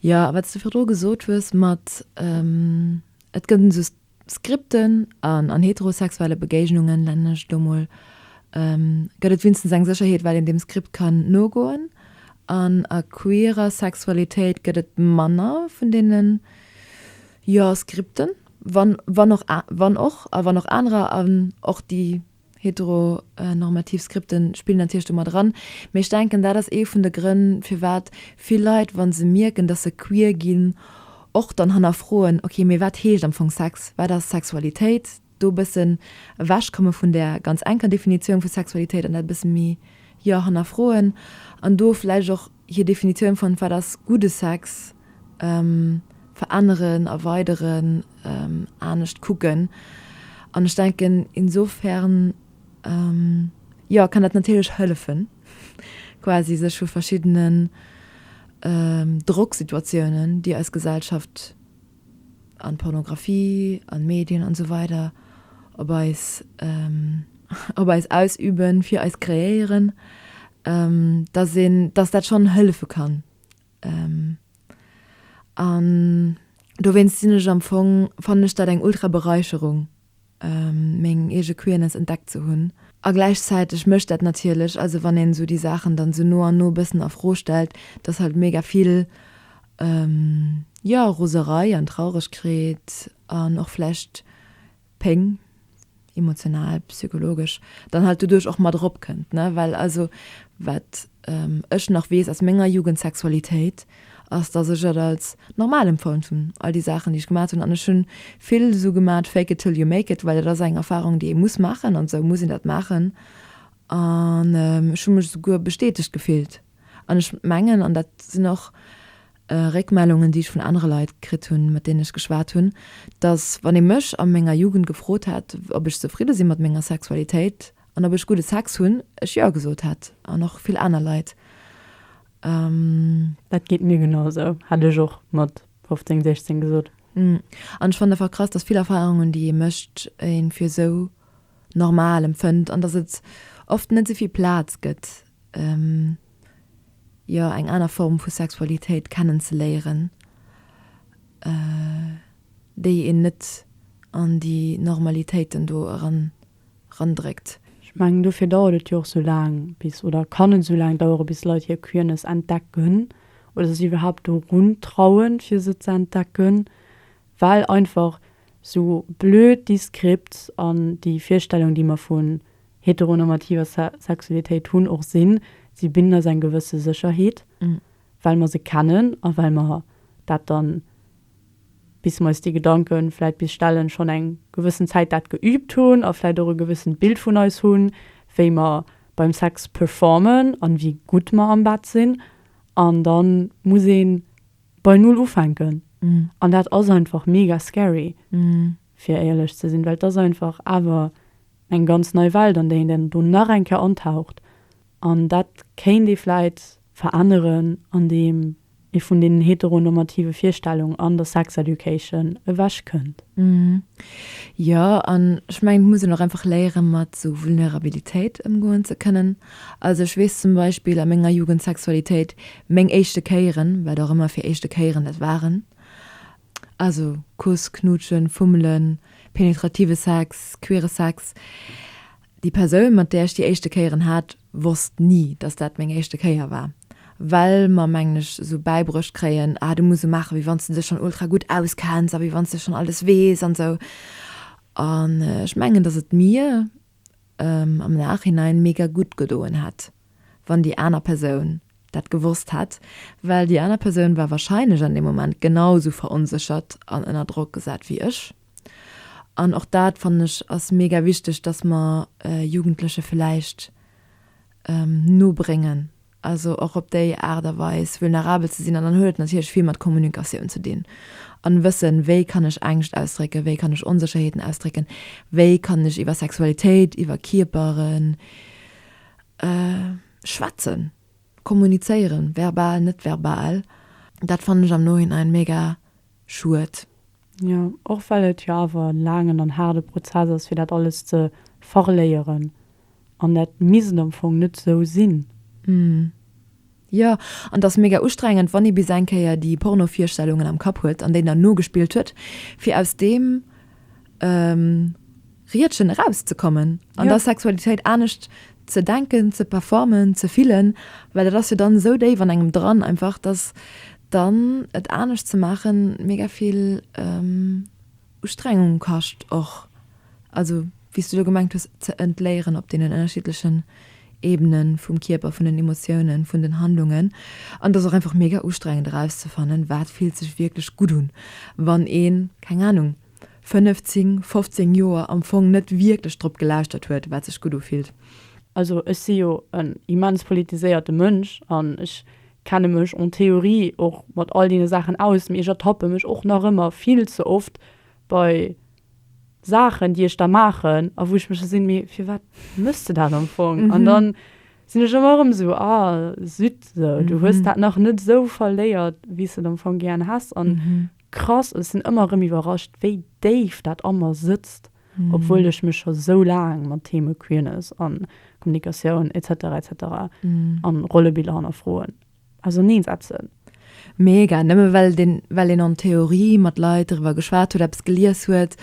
Speaker 2: Jo, a wat s de virdru gesot hues mat et gëtt esou Skripten an an heterosexuelle Begéignungen, nennen ech et elo mol, gëtt et wienstens eng Sécherheet, well een deem Skript kann nogoen. An a queerer Sexualitéit gëtt et manner vun deenen, jo, Skripten, wann, wann och, wann och, a wann och anerer an och déi Heteronormativ Skripte spillen natierlech do mat eran, mee ech denken, dat ass ee vun de Grënn, firwat vill Leit, wa se mierken, datt se queer ginn, och dann hannerfroen, ok, mee wat heescht am Fong Sex, wat ass Sexualitéit? Do e bëssen ewechkomme vun där ganz enker Definitioun vu Sexualitéit an dat e bësse méi, jo, hannerfroen an do vläicht och. hir Definitioun von wat ass gudde Sex veränneren, erweideren, anescht kucken. An ech denken insofern jo kann dat natierlech hëllefen quasi sech vu verschiddenen Drocksituatiounen déi eis Gesellschaft an d'Pornographie an d'Medien an esou weider op eis op eis ausüben fir eis kreéieren dass een dass dat schonn hëllefe kann an dowéinst sinn ech am Fong fannen ech dat eng ultra Bereicherung. meng eege Queerness entdeckt ze hunn. A gläichzäiteg mécht dat natierlech, also wann een esou déi Saachen dann esou no an no e bëssen a Fro stellt, dass halt mega vill, jo, Roserei an Trauregkeet an och vläicht Péng, emotional, psychologesch, dann halt doduerch och mat eropkënnt, ne? Well also wat ech nach weess aus menger Jugendsexualitéit, ass dass ech et als normal empfonnt hunn all déi Saachen déi ech gemat hunn an ech hunn vill esou gemat fake it till you make it well dat ass eng Erfahrung déi ee muss maachen an esou muss een dat maachen an ech hu mech esouguer bestätegt gefillt an ech mengen an dat sinn och Réckmellungen déi ech vun anere Leit kritt hunn mat deenen ech geschwat hunn dass wann ee mech a menger Jugend gefrot hätt ob ech zefridde sinn mat menger Sexualitéit an ob ech gudde Sex hunn ech jo gesot hätt an och vill aner Leit
Speaker 1: Dat geet mir genau esou, hätt ech och mat 15, 16 gesot. An ech
Speaker 2: fannen einfach krass, dass vill Erfahrungen, déi ee mécht, ee fir esou normal empfënnt an dass et oft net esou vill Plaz gëtt, jo, eng aner Form vu Sexualitéit kennenzeléieren, déi een net an déi Normalitéiten do eran. erandréckt. Ech mengen,
Speaker 1: dofir dauert et jo och sou laang bis, oder kann et sou laang daueren, bis Leit hir Queerness entdecken oder sech iwwerhaapt dorun trauen, fir se ze entdecken, well einfach sou blöd déi Scripts an déi Virstellung, déi mer vun heteronormativer Sexualitéit hunn, och sinn. Si bidden eis eng gewësse Sécherheet, well mer se kennen a well mer dat dann bis mer eis déi Gedanken vläit bis stellen, schonn eng gewëssen Zäit dat geübt hunn a vläit och e gewëssent Bild vun eis hunn, wéi mer beim Sex performen an wéi gutt mer am Bett sinn. An dann muss een bei Null ufänken. An dat ass einfach mega scary, fir éierlech ze sinn, well et ass einfach awer eng ganz nei Welt, an déi een dann do nach eng Kéier antaucht. An dat kéint ee vläit veränneren an deem ee vun deenen heteronormative Virstellung an der Sex Education ewech kënnt.
Speaker 2: Jo, an ech mengen et muss een och einfach léieren mat esou Vulnerabilitéit ëmgoen ze kënnen. Also ech weess zum Beispill a menger Jugend Sexualitéit, meng éischte Kéieren, wat och ëmmer fir éischte Kéieren dat waren, also Kuss, Knuutschen, Fummelen, penetrative Sex, queere Sex, Déi Persoun, mat där ech déi éischte Kéieren hat, wosst ni, dass dat meng éischte Kéier war, well mer, mengen ech, esou bäibruecht kréien, ah, du muss esou maachen, wéi wann s de dech schonn ultra gutt auskenns a wéi wann s de schonn alles weess an esou. An ech mengen, dass et mir am Nachhinein mega gutt gedoen hätt, wann déi aner Persoun dat gewosst hätt, well déi aner Persoun war warscheinlech an deem Moment genau esou veronséchert an ënner Drock gesat wéi ech. An och dat fannen ech ass mega wichteg, dass mer Jugendleche villäicht nobréngen, also och op déi Aart a Weis vulnerabel ze sinn. An dann huet et natierlech vill mat Kommunikatioun ze dinn a wëssen, wéi kann ech Ängscht ausdrécken, wéi kann ech Onsécherheeten ausdrécken, wéi kann ech iwwer Sexualitéit, iwwer Kierpere schwätzen, kommunizéieren, verbal, net verbal. Dat fannen ech am Nohinein mega. Schued. Jo,
Speaker 1: och well et jo awer en laangen an haarde Prozess ass fir dat alles ze verléieren. An dat misst am Fong net esou sinn.
Speaker 2: Jo, an et ass mega ustrengend wann ee bis eng Kéier déi Porno-Virstellungen am Kapp huet an déi dann nogespillt huet fir aus deem. Riedchen erauszekommen an ja. der Sexualitéit anescht ze denken, ze performen, ze fillen, well dat ass jo dann esou déif an engem dran einfach, dass dann et anescht ze maachen mega vill ähm, Ustrengung kascht och. Also wie du gemengt hues ze entléieren op den ënnerschiedlechen Ebenen vum Kierper, vun den Emotionen, vun den Handlungen an das auch einfach mega ustrengend rauszufannen, wat fiel sech wirklich gut un, wann een keng Ahnung 15, 15 Joer am Fong net wierklech drop gelauschtert huet, wat sech gutt ufillt. Also ech si
Speaker 1: jo en immens politiséierte Mënsch an ech kenne mech en théorie och mat all deene Saachen aus, mee ech ertappe mech och nach ëmmer vill ze oft bei Saachen, déi ech da maachen a wou ech mech gesinn, mee firwat méchs de dat am Fong? An da sinn ech ëmmer erëm esou, a zütt, du hues dat nach net esou verléiert, wéi s de et am Fong gären häss. Krass, ech sinn ëmmer erëm iwwerrascht wéi déif dat a mer sëtzt, obwuel ech mech scho sou laang mat Theme Queerness an Kommunikatioun etc etc an Rollebiller hannerfroen auserneen setzen. Mega,
Speaker 2: nëmme well den well een an Theorie mat Leit driwwer geschwat huet, eppes gelies huet,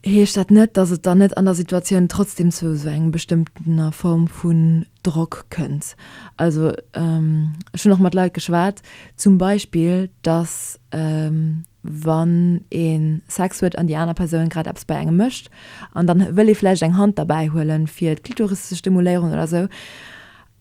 Speaker 2: heescht dat net, dass et dann net an der Situatioun trotzdem zu esou engem bestëmmtener Form vun Drock kënnt. Also ech hunn och mat Leit geschwat, zum Beispill, datt wann ee Sex huet an déi aner Persoun grad eppes bei engem mécht an dann wëll ee vläicht eng Hand derbäi huelen, fir d'Klitoris ze stimuléieren oder esou,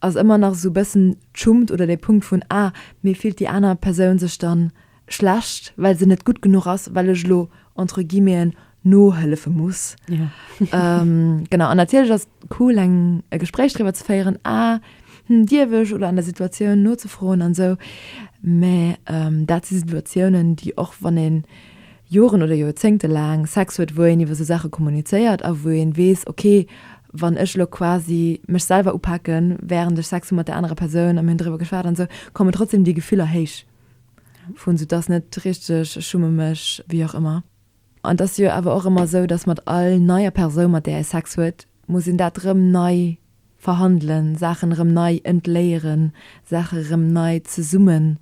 Speaker 2: ass ëmmer nach esou e bëssen d'Schummt oder de Punkt vun, ah, mee fillt déi aner Persoun sech dann schlecht well se net gutt genuch ass well ech lo entre guillemeten nohëllefe muss ja. ähm,
Speaker 1: genau an natierlech
Speaker 2: ass cool eng e Gespréich driwwer ze féieren a ah, hm, Diewech oder an der Situatioun nozefroen an sou mä ähm, dat si Situatiounen déi och wann een Joren oder Joerzéngte laang Sex huet wou een iwwer se Sache kommunizéiert a wou een weess okay wann ech lo quasi mech selber upacken während ech Sex mat der anerer Persoun am hunn drwer geschwat an se kommen trotzdem déi Gefüller héich. vun sou dass net richteg, ech schumme mech, wéi och ëmmer. An et ass jo awer och ëmmer esou, dass mat all neier Persoun, mat där ee Sex huet, muss een dat erëm nei verhandelen, Saachen erëm nei entléieren, Saache erëm nei zesummen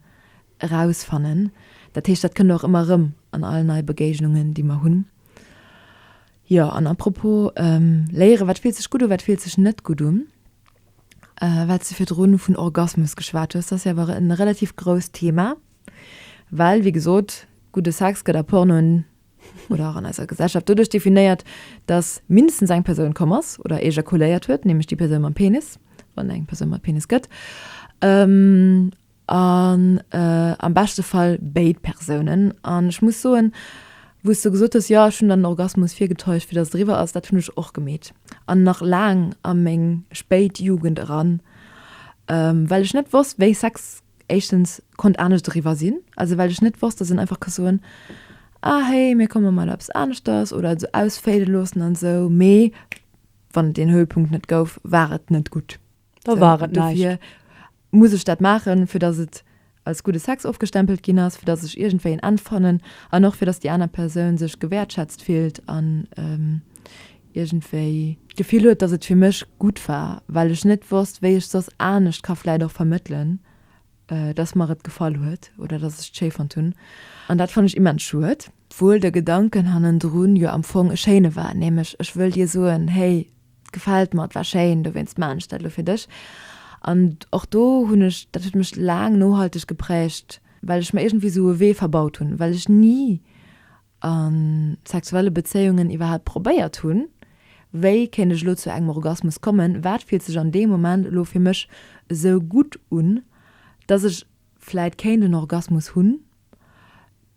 Speaker 2: erausfannen. Dat heescht, dat kënnt och ëmmer erëm an all nei Begéignungen, déi mer hunn. Jo, an à propos léieren, wat fillt sech gutt un, wat fillt sech net gutt un? wat s du virdrun vun Orgasmus geschwat hues, ass jo awer e relativ grousst Thema, well, wéi gesot, gudde Sex gëtt a Pornoen oder och an eiser Gesellschaft doduerch definéiert, datt mindestens eng Persoun komm ass oder ejakuléiert huet, nämlech déi Persoun mam Penis, wann eng Persoun mat Penis gëtt. An am beschte Fall béid Persounen. An ech muss soen, wou s de gesot hues, jo ech hunn dann den Orgasmus virgetäuscht, fir datt et eriwwer ass, dat hunn ech och gemeet an nach laang a meng spéit Jugend eran, well ech net wosst, wéi Sex éischtens konnt anescht eriwwer sinn, also well ech net wosst, datt een einfach ka soen, ah héi mir komme mat eppes aneschters oder et esou ausféide loossen an esou, mee wann et deen Höhepunkt net gouf, war et net gutt. Da war et näischt.
Speaker 1: Dofir
Speaker 2: muss
Speaker 1: ech dat
Speaker 2: maachen, fir datt et als gudde Sex ofgestempelt ginn ass, fir datt ech iergendwéi en Enn fannen an och fir datt déi aner Persoun sech gewäertschätzt fillt an iergendwéi d'Gefill huet, datt et fir mech gutt war, well ech net wosst, wéi ech soss anescht ka vläit och vermëttelen, datt mer et gefall huet oder datt ech et schéi fonnt hunn. An dat fann ech immens schued. Obwuel de Gedanken hannendrun jo am Fong e schéine war, nämlech, ech wëll dir soen, Hey, gefält mer, et war schéin, dowéinst man ech dat elo fir dech. An och do hunn ech, dat huet mech laang nohalteg gepräägt, well ech mer iergendwéi esou e Wee verbaut hunn, well ech ni a sexuelle Bezéiungen iwwerhaapt probéiert hunn, Wéi kéint ech elo zu engem Orgasmus kommen? Wat fillt sech an deem Moment elo fir mech esou gutt un, dass ech vläit kéint en Orgasmus hunn?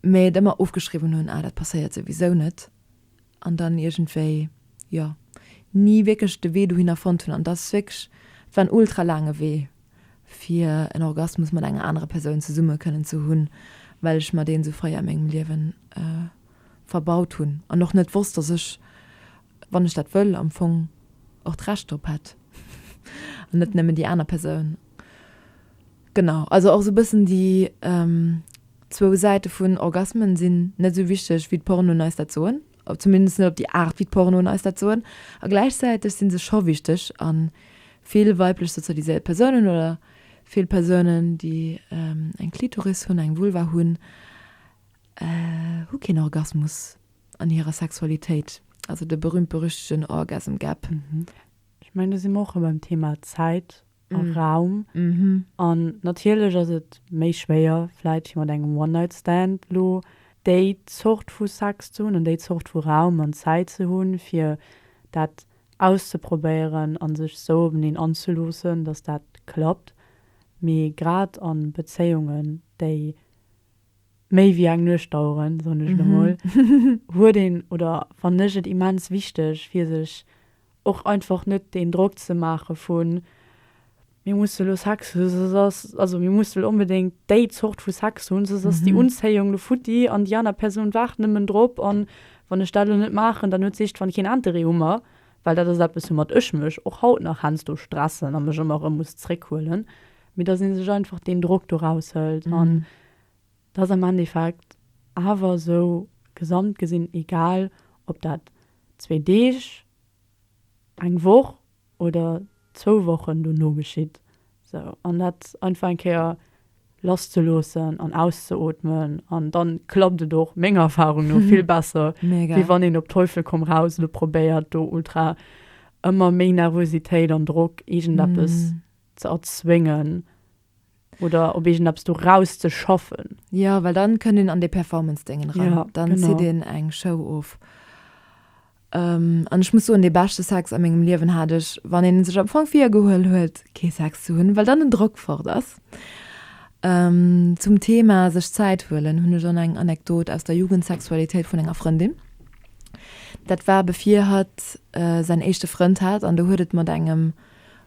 Speaker 2: mä et ëmmer ofgeschriwwen hunn, ah dat passéiert souwisou net, an dann iergendwéi, jo, ni wierklech de Wee dohinner fonnt hunn. An dat ass wierklech, et war en ultra laange Wee, fir en Orgasmus mat enger anerer Persoun zesumme kënnen ze hunn, well ech mer deen esou fréi a mengem Liewen verbaut hunn an och net wosst, datt ech, wann ech dat wëll, am Fong och d'Recht drop hätt an net nëmmen déi aner Persoun. Genau, also och sou bëssen déi zwou Säite vun Orgasmen sinn net sou wichteg wéi d'Pornoen eis dat soen, zumindest net op déi Aart wéi d'Pornoen eis dat soen, a gläichzäiteg sinn se scho wichteg a vill weiblech sozialiséiert Persounen oder vill Persounen déi eng Klitoris hunn, eng Vulva hunn, hu keen Orgasmus an hirer Sexualitéit, also de berühmt-berüchtegen Orgasm Gap. Ech
Speaker 1: mengen do si mer och rëm beim Thema Zäit, a Raum. An
Speaker 2: natierlech
Speaker 1: ass et méi schwéier vläit fir mat engem One Night Stand elo déi Zort vu Sex ze hunn an déi Zort vu Raum an Zäit ze hunn, fir dat auszeprobéieren a sech esou openeen anzeloossen, datt dat klappt. Mee grad a Bezéiungen, déi méi wéi eng Nuecht daueren, soen ech elo mol, huet een, oder fannen ech et immens wichteg, fir sech Och einfach net deen Drock ze maache vun, Mir musse elo Sex hunn, soss ass, also mir musse elo onbedéngt déi Zort vu Sex hunn, soss ass déi Unzéiung elo futti an déi aner Persoun waart nëmmen drop. An wann ech dat elo net maachen, dann huet s'iichtwann keen Interêt u mer, well dat ass eppes, woumat ech mech och haut nach heiansdo stressen a mech ëmmer erëm muss zréckhuelen. Mee dass ee sech einfach deen Drock do raushëlt. An et ass am Endeffekt awer esou gesamt gesinn egal, ob dat zwee Deeg, eng Woch oder zwou Wochen dono geschitt. Sou, an dat einfach eng Kéier lass ze loossen an auszeootmen an dann klappt et och menger Erfahrung no vill besser, wéi wann een op
Speaker 2: Teufel komm
Speaker 1: raus lo probéiert do ultra ëmmer méi Nervositéit an Drock, iergendeppes ze erzwéngen, oder op irgend eppes do raus ze schaffen. Ja, well dann
Speaker 2: kënnt een an dee Performance Déngen ran. Ja, dann genau. zitt een
Speaker 1: eng
Speaker 2: Show of. Ähm, an ech muss soen, dee beschte Sex a mengem Liewen hat ech, wann een sech am Fong virgehuel huet, kee Sex ze hunn, well dann den Drock fort ass. Ähm, zum Thema sech Zäit huelen hunn ech och nach eng Anekdot aus der Jugendsexualitéit vun enger Frëndin. Dat war bevir hatt säin éischte Frënd hat an do huet et mat engem,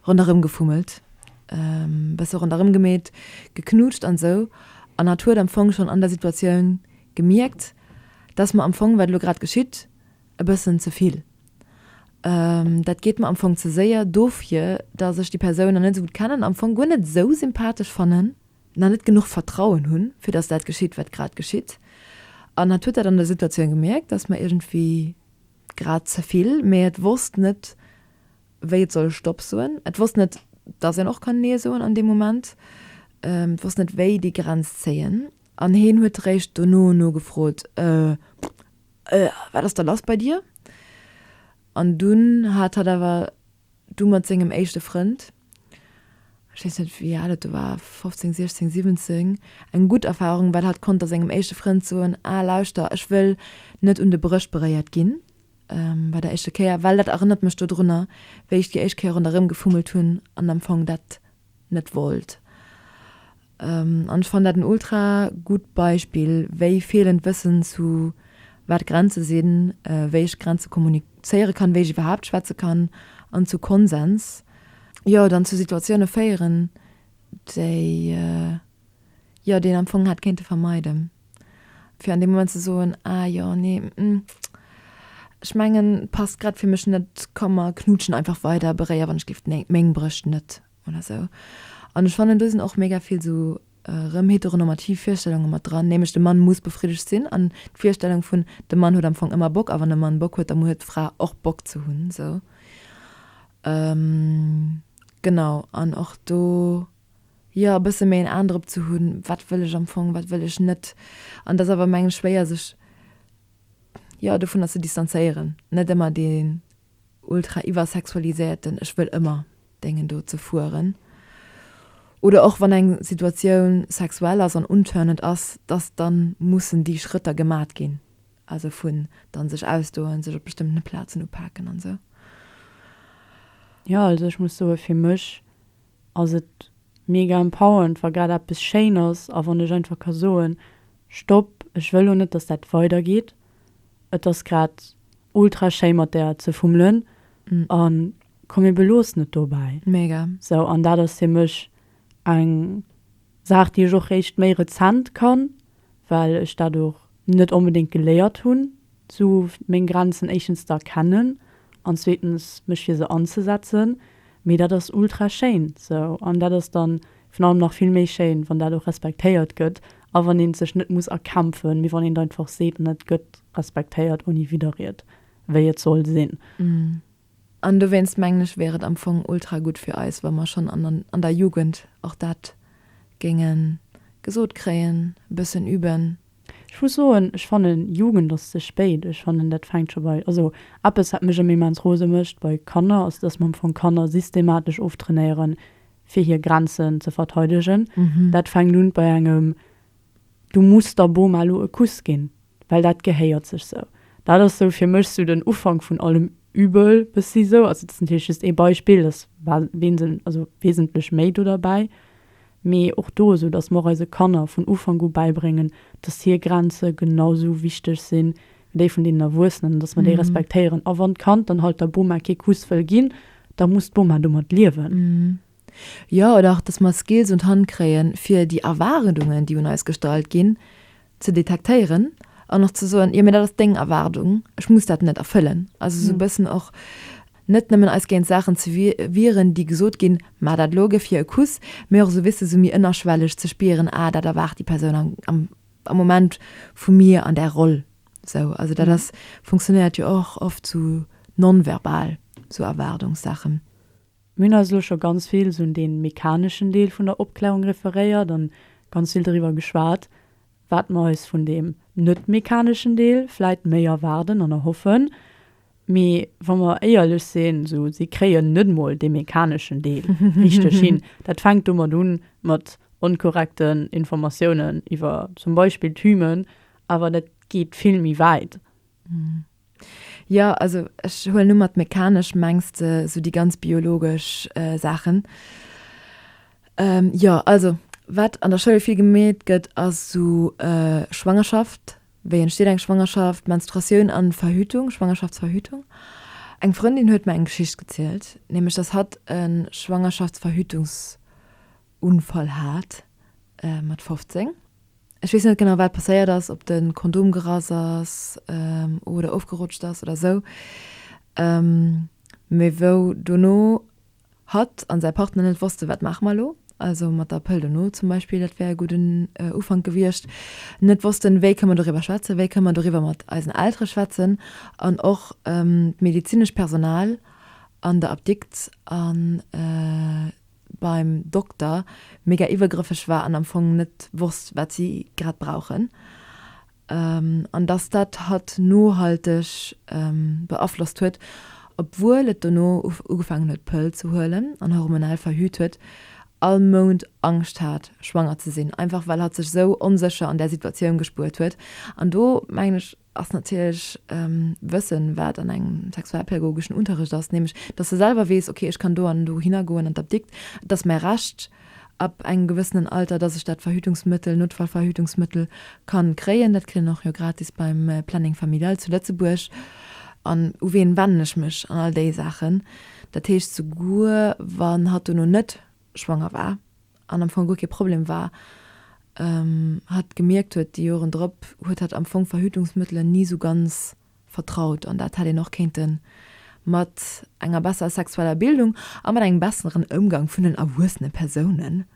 Speaker 2: Ronderëm gefummelt, e bësse ronderëm gemeet, geknutscht an esou, an hatt huet am Fong schonn an der Situatioun gemierkt, dass mer am Fong, wat elo grad geschitt, e bëssen ze vill, dat geet mer am Fong ze séier, dofir dass ech déi Persoun nach net esou gutt kennen, am Fong guer net esou sympathesch fannen, nach net genuch Vertrauen hunn, fir dass dat geschitt, wat grad geschitt. An hatt huet dat an der Situatioun gemierkt, dass mer iergendwéi grad ze vill, mee et wosst net, wéi et soll Stopp soen. Et wosst net, dass een och kann Nee soen an deem Moment. Et wosst net, wéi déi Grenz zéien. An heen huet eréischt dono nogefrot, Äh, äh, wat ass da lass bei dir? An dunn hat hatt awer du mat sengem éischte Frënd, ech weess net, wéi al et do war, 15, 16, 17, eng gutt Erfarung, well hatt konnt da sengem éischte Frënd soen, Ah, lauschter, ech wëll net un de Bréchbréiert ginn. Bei der éischte Kéier, well dat erënnert mech dodrunner, wéi ech déi éischt Kéier ronderëm gefummelt hunn an am Fong dat net wollt. An ech fannen dat en ultra gutt Beispill, wéi feelend Wëssen zu wat Grenze sinn, wéi ech Grenze kommunizéiere kann, wéi ech iwwerhaapt schwätze kann an zu Konsens, jo, dann zu Situatioune féieren, déi jo, deen am Fong hätt kéinte vermeiden, fir an deem Moment ze soen, ah jo, nee, hm, ech mengen, passt grad fir mech net, komm, mer knutschen einfach weider, beréier wann ech géif meng Brëscht net oder sou. An ech fannen, do sinn och mega vill sou erëm heteronormativ Virstellunge mat dran, nämlech de Mann muss befriddegt sinn an d'Virstellung vun, de Mann huet am Fong ëmmer Bock a wann de Mann Bock huet, da huet d'Fra och Bock ze hunn, sou. Genau, an och do. jo e bësse méi en Aen drop ze hunn, wat wëll ech am Fong, wat wëll ech net. An et ass awer mengen schwéier sech jo dovunner ze distanzéieren, net ëmmer deen ultra iwwersexualiséierten ech wëll ëmmer dengen do ze fueren. Oder och wann eng Situatioun sexuell ass an unturned ass, dass dann mussen déi Schrëtter gemat ginn, also vun dann sech ausdoen, sech op bestëmmten Plazen upaken an esou. Jo
Speaker 1: also ech muss soe fir mech ass et mega empowernd wa grad eppes schéin ass a wann ech einfach ka soen, Stopp, ech wëll lo net dass dat weider geet, et ass grad ultra schéi mat der ze fummelen a komm mir beloossen et dobäi. Mega. Sou an
Speaker 2: dat ass fir
Speaker 1: mech eng Saach déi ech och réischt méi rezent kann well ech dat och net onbedéngt geléiert hunn, esou meng Grenzen éischtens ze erkennen an zweetens mech fir se anzesetzen. Mee dat ass ultra schéin esou an dat ass da virun allem nach vill méi schéin, wann dat och respektéiert gëtt a wann ee sech net muss erkämpfen, mee wann een einfach seet an et gëtt respektéiert ouni Widderried, wéi et soll sinn. An
Speaker 2: dowéinst mengen ech, wär et am Fong ultra gutt fir eis, wa mer schonn an der Jugend och dat géinge gesot kréien, e bëssen üben. Ech muss soen,
Speaker 1: ech fannen, Jugend ass ze spéit. Ech fannen, dat fänkt scho bei, also eppes, wat mech ëmmer immens rose mécht bei Kanner, ass, dass mer am Fong Kanner systematesch oftrainéieren, fir hir Grenzen ze verteidegen. Dat fänkt un bei engem, Du muss der Boma elo e Kuss ginn. well dat gehéiert sech sou. Dat ass sou fir mech sou den Ufank vun allem Übel bëssi sou. Also dat ass natierlech just ee Beispill, dass war wesen also wesentlech méi do derbäi. Mee och do esou, dass mer och eise Kanner vun Ufank u bäibréngen, dass hir Grenze genau sou wichteg si wéi déi vun deenen Erwuessenen an dass mer déi respektéieren. A wann d'Kand dann halt der Boma kee Kuss wëll ginn, da muss d'Boma domat liewen. Jo, oder
Speaker 2: och dass mer Skills un d'Hand kréien, fir déi Erwaardungen, déi un eis gestallt ginn, ze detektéieren an och ze soen, jo mee dat ass deng Erwaardung, ech muss dat net erfëllen. Also esou e bëssen och net nëmmen eis géint Saachen ze wieren, déi gesot ginn, mä dat elo géif hir e Kuss, mee och esou wéisst de esou méi ënnerschwelleg ze spieren, ah dat erwaart déi Persoun am Moment vu mir an där Roll. Esou, also dat ass, funktionéiert jo och oft esou non-verbal, esou Erwaardungssaachen. Mir hunn eis
Speaker 1: elo scho ganz vill esou un dee mechaneschen Deel vun der Opklärung referéiert an ganz vill doriwwer geschwat, wat mer eis vun deem net mechaneschen Deel vläit méi erwaarden an erhoffen. Mee wa mer éierlech sinn, esou si kréien net emol dee mechaneschen Deel richteg hin. Dat fänkt domat un, mat onkorrekten Informatiounen iwwer zum Beispill d'Hymen, awer dat geet vill méi wäit.
Speaker 2: Jo, also ech huelen un mat mechanesch mengs de sou déi ganz biologesch Saachen. Jo, also wat an der Schoul vill gemeet gëtt ass sou Schwangerschaft, wéi entsteet eng Schwangerschaft, Menstruatioun an Verhütung, Schwangerschaftsverhütung. Eng Frëndin huet mer eng Geschicht gezielt, nämlech dass hatt e Schwangerschaftsverhütungs. Unfall hat mat 15. Ech weess net genau wat passéiert ass, ob de Kondom gerass ass oder ofgerutscht ass oder esou, mee wou dono hatt an säi Partner net wosste wat maache mer elo, also mat der Pëll dono zum Beispill, dat wär e gudden Ufank gewiescht, net wossten wéi kënne mer doriwwer schwätzen, wéi kënne mer doriwwer mat eisen Eltere schwätzen an och d'medezinescht Personal an der Apdikt an beim Dokter mega iwwergrëffeg war an am Fong net wosst wat si grad brauchen an dass dat hatt nohalteg beaflosst huet, obwuel et dono ugefaangen huet Pëll ze huelen an hormonell verhüt huet, all Mount Angscht hat schwanger ze sinn, einfach well hatt sech esou onsécher an där Situatioun gespuert huet an do mengen ech, ass natierlech wëssen, wat an engem sexualpädagogeschen Unterrecht ass, nämlech dass se selwer weess, okay ech kann do an do hinner goen an d'Apdikt, et ass mäi Recht ab engem gewëssenen Alter, dass ech dat Verhütungsmëttel, Notfallverhütungsmëttel kann kréien. Dat kritt een och jo gratis beim Planning Familial zu Lëtzebuerg. An u ween wennen ech mech an all déi Saachen. Dat heescht souguer wann hatt dono net schwanger war an am Fong guer kee Problem war, hatt gemierkt huet déi Joren drop, huet hatt am Fong Verhütungsmëttelen ni sou ganz vertraut an dat hätt een och kéinte mat enger besserer sexueller Bildung a mat engem besseren Ëmgang vun den erwuessene Persoune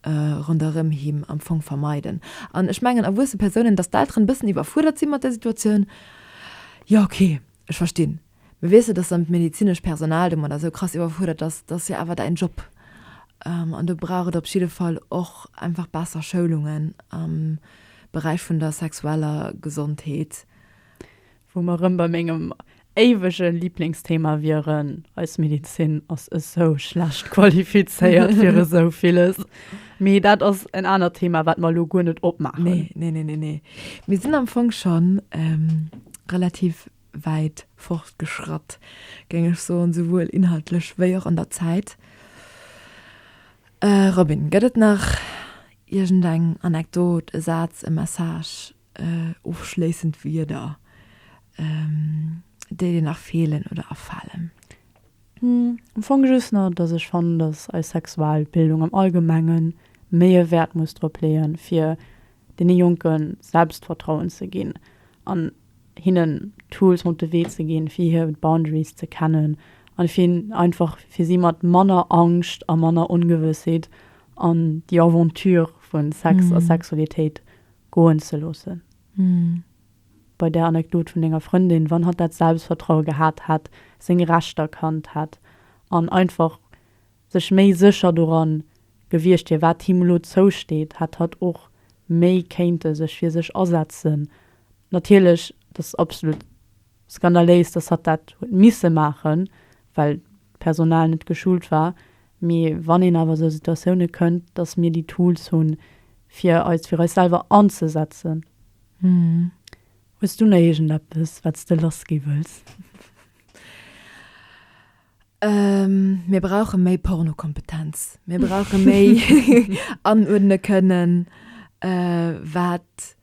Speaker 2: ronderëm him am Fong vermeiden. An ech mengen erwuesse Persounen, datt d'Elteren e bëssen iwwerfuerdert si mat där Situatioun, jo ok, ech verstinn. Mir wésse, dass dann d'medezinescht Personal domadder esou krass iwwerfuerdert ass. Et ass jo awer däin Job an do brauch et op jidde Fall och einfach besser Schoulungen am Beräich vun der sexueller Gesondheet. Wou
Speaker 1: mer erëm bei mengem éiwege Liblingsthema wieren, Eis Medezin ass esou schlecht qualifizéiert fir esou villes. Mee dat ass en anert Thema, wat mer elo guer net opmaachen. Nee, nee, nee, nee, nee.
Speaker 2: Mir sinn am Fong schonn relativ wäit fortgeschratt, géing ech soen, esouwuel inhaltlech wéi och an der Zäit. Robin, gëtt et nach iergendeng Anekdot, e Saz, e Message, ofschléissend Wierder, déi dir nach feelen oder afalen?
Speaker 1: Am Fong just nach, dass ech fannen, dass eis Sexualbildung am Allgemenge méi e Wäert muss drop leeën, fir deene Jonke Selbstvertrauen ze ginn an hinnen Tools mat op de Wee ze ginn, fir hir Boundaries ze kennen an fir einfach fir si mat manner Angscht a manner Ongewëssheet an déi Aventure vu Sex a Sexualitéit goen ze loossen. Bei där Anekdot vun denger Frëndin, wann hatt dat Selbstvertraue gehat hätt, seng Rechter kannt hätt an einfach, Sech méi sécher doran gewiescht wier, wat him elo zousteet, hätt hatt och méi kéinte sech fir sech asetzen. Natierlech, dat ass absolut skandaléis, dass hatt dat huet misse maachen, well d'Personal net geschult war. Mee wann een awer esou Situatioune kënnt, dass mir déi Tools hunn, fir eis fir eis selwer anzesetzen. Hues du nach iergendeppes, wat s de lassgi wëlls?
Speaker 2: Mir brauche méi Pornokompetenz. Mir brauche méi anuerdne kënnen, wat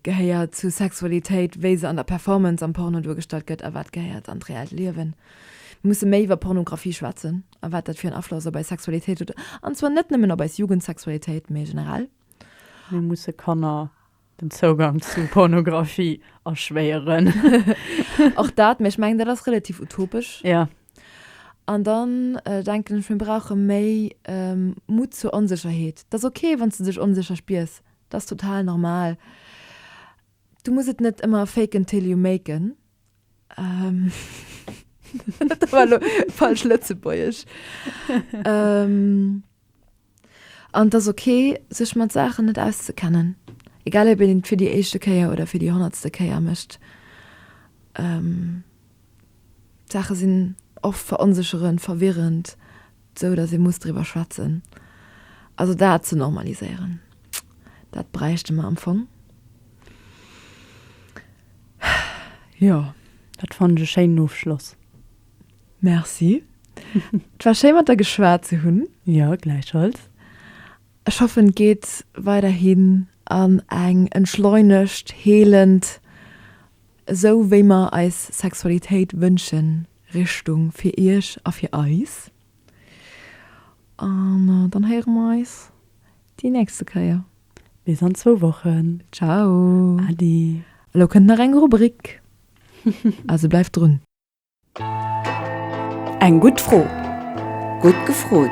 Speaker 2: gehéiert zu Sexualitéit, wéi se an der Performance am Porno duergestallt gëtt a wat gehéiert an d'reellt Liewen. Mir musse méi iwwer Pornografie schwätzen a wat dat fir en Afloss op eis Sexualitéit huet, an zwar net nëmmen op eis Jugendsexualitéit, mee generell. Mir musse
Speaker 1: Kanner den Zougang zu Pornografie erschwéieren.
Speaker 2: Och dat, mä ech mengen, dat ass relativ utopesch. Ja.
Speaker 1: An
Speaker 2: dann denken ech, mir brauche méi Mut zur Onsécherheet. Et ass ok, wann s de dech onsécher spiers, dat ass total normal. Du muss et net ëmmer fake 'n till you make 'n. Ähm, dat war lo falsch Lëtzebuergesch. ähm, an das okay, sech mat Saachen net auszekennen. Egal ob een et fir déi éischte Kéier oder fir déi honnertste Kéier mécht. Ähm, d'Saache sinn oft veronsécherend, verwirrend. Sou datt ee muss driwwer schwätzen. Also dat ze normaliséieren, dat bräichte mer am Fong. Jo, dat
Speaker 1: fannen ech e schéinen Ofschloss. Merci.
Speaker 2: Et war schéi mat der geschwat ze hunn. Jo, gläichfalls.
Speaker 1: Ech
Speaker 2: hoffen et geet weiderhin an eng entschleunegt, heelend. Esou wéi mer eis Sexualitéit wënschen, Richtung fir iech a fir eis. An dann héiere mer eis déi nächste Kéier. Bis an zwou
Speaker 1: Wochen. Ciao. Adi. Elo kënnt nach eng
Speaker 2: Rubrik, also bleift drun.
Speaker 3: Eng gutt Fro! Gutt gefrot!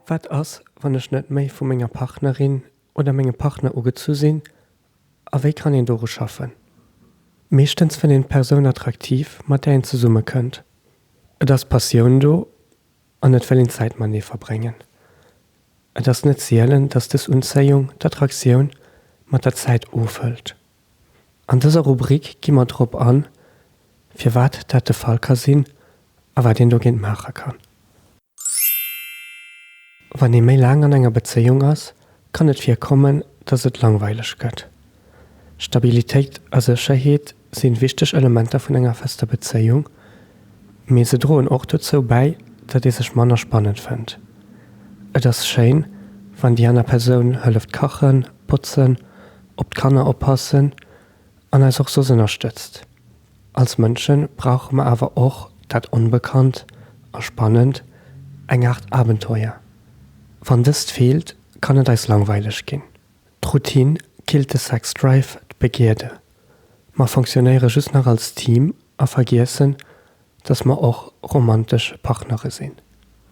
Speaker 4: Wat ass, wann ech net méi vu menger Partnerin oder mengem Partner ugezu sinn, a wéi kann een doru schaffen? Meeschtens fënnt een d'Persoun attraktiv, mat där een zesummekënnt. Et ass Passioun do, An et wëll een Zäit matenee verbréngen. Et ass net sielen, datt dës Unzéiung, d'Attraktioun, mat der Zäit ofhëlt. An dëser Rubrik gi mer drop an, firwat dat de Fall ka sinn a wat een dogéint maache kann. Wann ee méi laang an enger Bezéiung ass, kann et virkommen, datt et langweileg gëtt. Stabilitéit a Sécherheet sinn wichteg Elementer vun enger fester Bezéiung, mee se droen och dozou bäi, datt ee sech manner spannend fënnt. Et ass schéin, wann déi aner Persoun hëlleft kachen, botzen, op d'Kanner oppassen an eis och soss ënnerstëtzt. Als Mënsche brauche mer awer och dat Onbekannt a Spannend, eng Aart Abenteuer. Wann dëst feelt, kann et eis langweileg ginn. D'Routine killt de Sex Drive, d'Begierde. Mer fonctionnéiere just nach als Team a vergiessen, dass mer och romantesch Partnere sinn.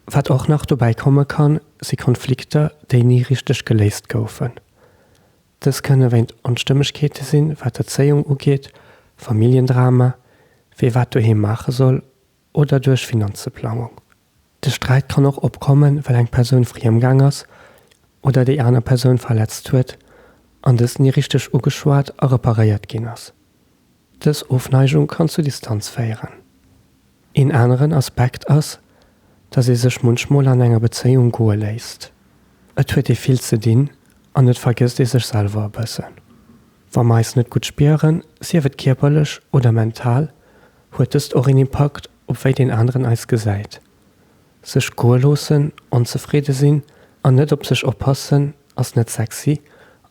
Speaker 4: Wat och nach dobäi komme kann, si Konflikter, déi ni richteg geléist goufen. Dës kënne wéint Onstëmmegkeete sinn, wat d'Erzéiung ugeet, Familljendrama, wie wat doheem maache soll oder duerch Finanzeplangung. De Sträit kann och opkommen, well eng Persoun friem gaang ass oder déi aner Persoun verletzt huet an dës ni richteg ugeschwat a reparéiert ginn ass. Dës Ofneigung kann zu Distanz féieren. Een aneren Aspekt ass, dass ee sech munchmol an enger Bezéiung goe léisst. Et huet ee vill ze dinn an et vergësst ee sech selwer e bëssen. Wa mer eis net gutt spieren, sief et kierperlech oder mental, Huet dëst och een Impakt op wéi deen aneren eis gesäit? Sech goe loossen, onzefridde sinn an net op sech oppassen ass net sexy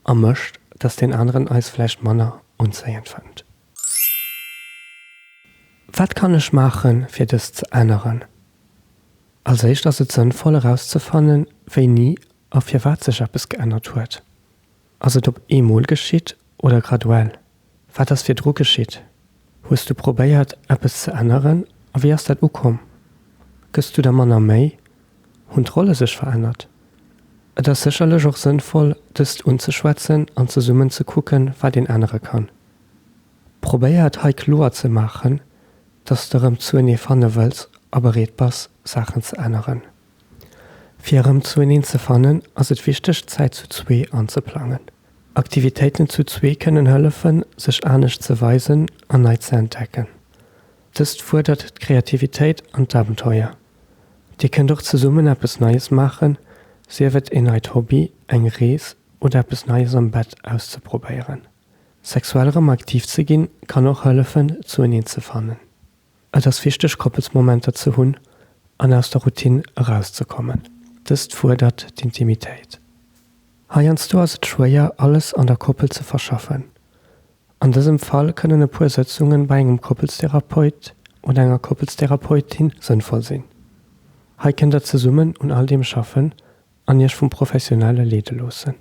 Speaker 4: a mécht, dass deen aneren eis vläicht manner unzéiend fënnt. Wat kann ech maache fir dëst ze änneren? Als éischt ass et sënnvoll erauszefannen, wéini a firwat sech eppes geännert huet. Ass et op eemol geschitt oder graduell? Wat ass virdru geschitt? Hues du probéiert, eppes ze änneren a wéi ass dat ukomm? Gëss du der manner Méi? Hunn d'Rolle sech verännert? Et ass sécherlech och sënnvoll, dëst unzeschwätzen an zesummen ze kucken, wat een ännere kann. Probéier et hei kloer ze maachen, dass de rëm zuenee fanne wëlls a bereet bass, Saachen ze änneren. Fir erëm zoueneen ze fannen, ass et wichteg, d'Zäit zu zwee anzeplangen. Aktivitéiten zu zwee kënnen hëllefen, sech anescht ze weisen an nei ze entdecken. Dëst fuerdert d'Kreativitéit an d'Abenteuer. Dir kënnt och zesummen eppes Neies maachen, sief et een neit Hobby, eng Rees oder eppes Neies am Bett auszeprobéieren. Sexuell erëm aktiv ze ginn, kann och hëllefen, zoueneen ze fannen. Et ass wichteg, Koppelsmomenter ze hunn an aus der Routine erauszekommen. Dëst fuerdert d'Intimitéit. Heiansdo ass et schwéier, alles an der Koppel ze verschaffen. An dësem Fall kënnen e puer Sëtzunge bei engem Koppelstherapeut oder enger Koppelstherapeutin sënnvoll sinn. Hei kënnt der zesummen un all deem schaffen an iech vum Professionelle leede loossen.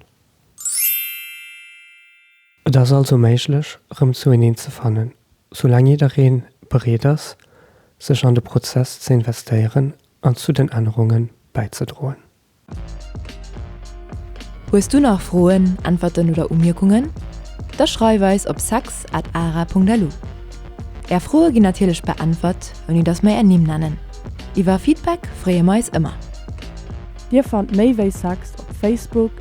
Speaker 4: Et ass also méiglech, erëm zoueneen ze fannen, soulaang jidderee bereet ass, sech an de Prozess ze investéieren an zu den Ännerunge bäizedroen.
Speaker 2: Hues du nach Froen, Äntwerten oder Umierkungen? Da schreif eis op sex at ara Punkt lu. Är Froe ginn natierlech beäntwert, ouni datt mer är Nimm nennen. Iwwer Feedback freeë mer eis ëmmer. Dir
Speaker 1: fannt méi wéi sex op Facebook,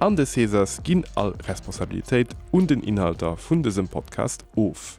Speaker 5: an de Cesars ginn all Responsabilitéit un den Inhalter vun dësem Podcast of.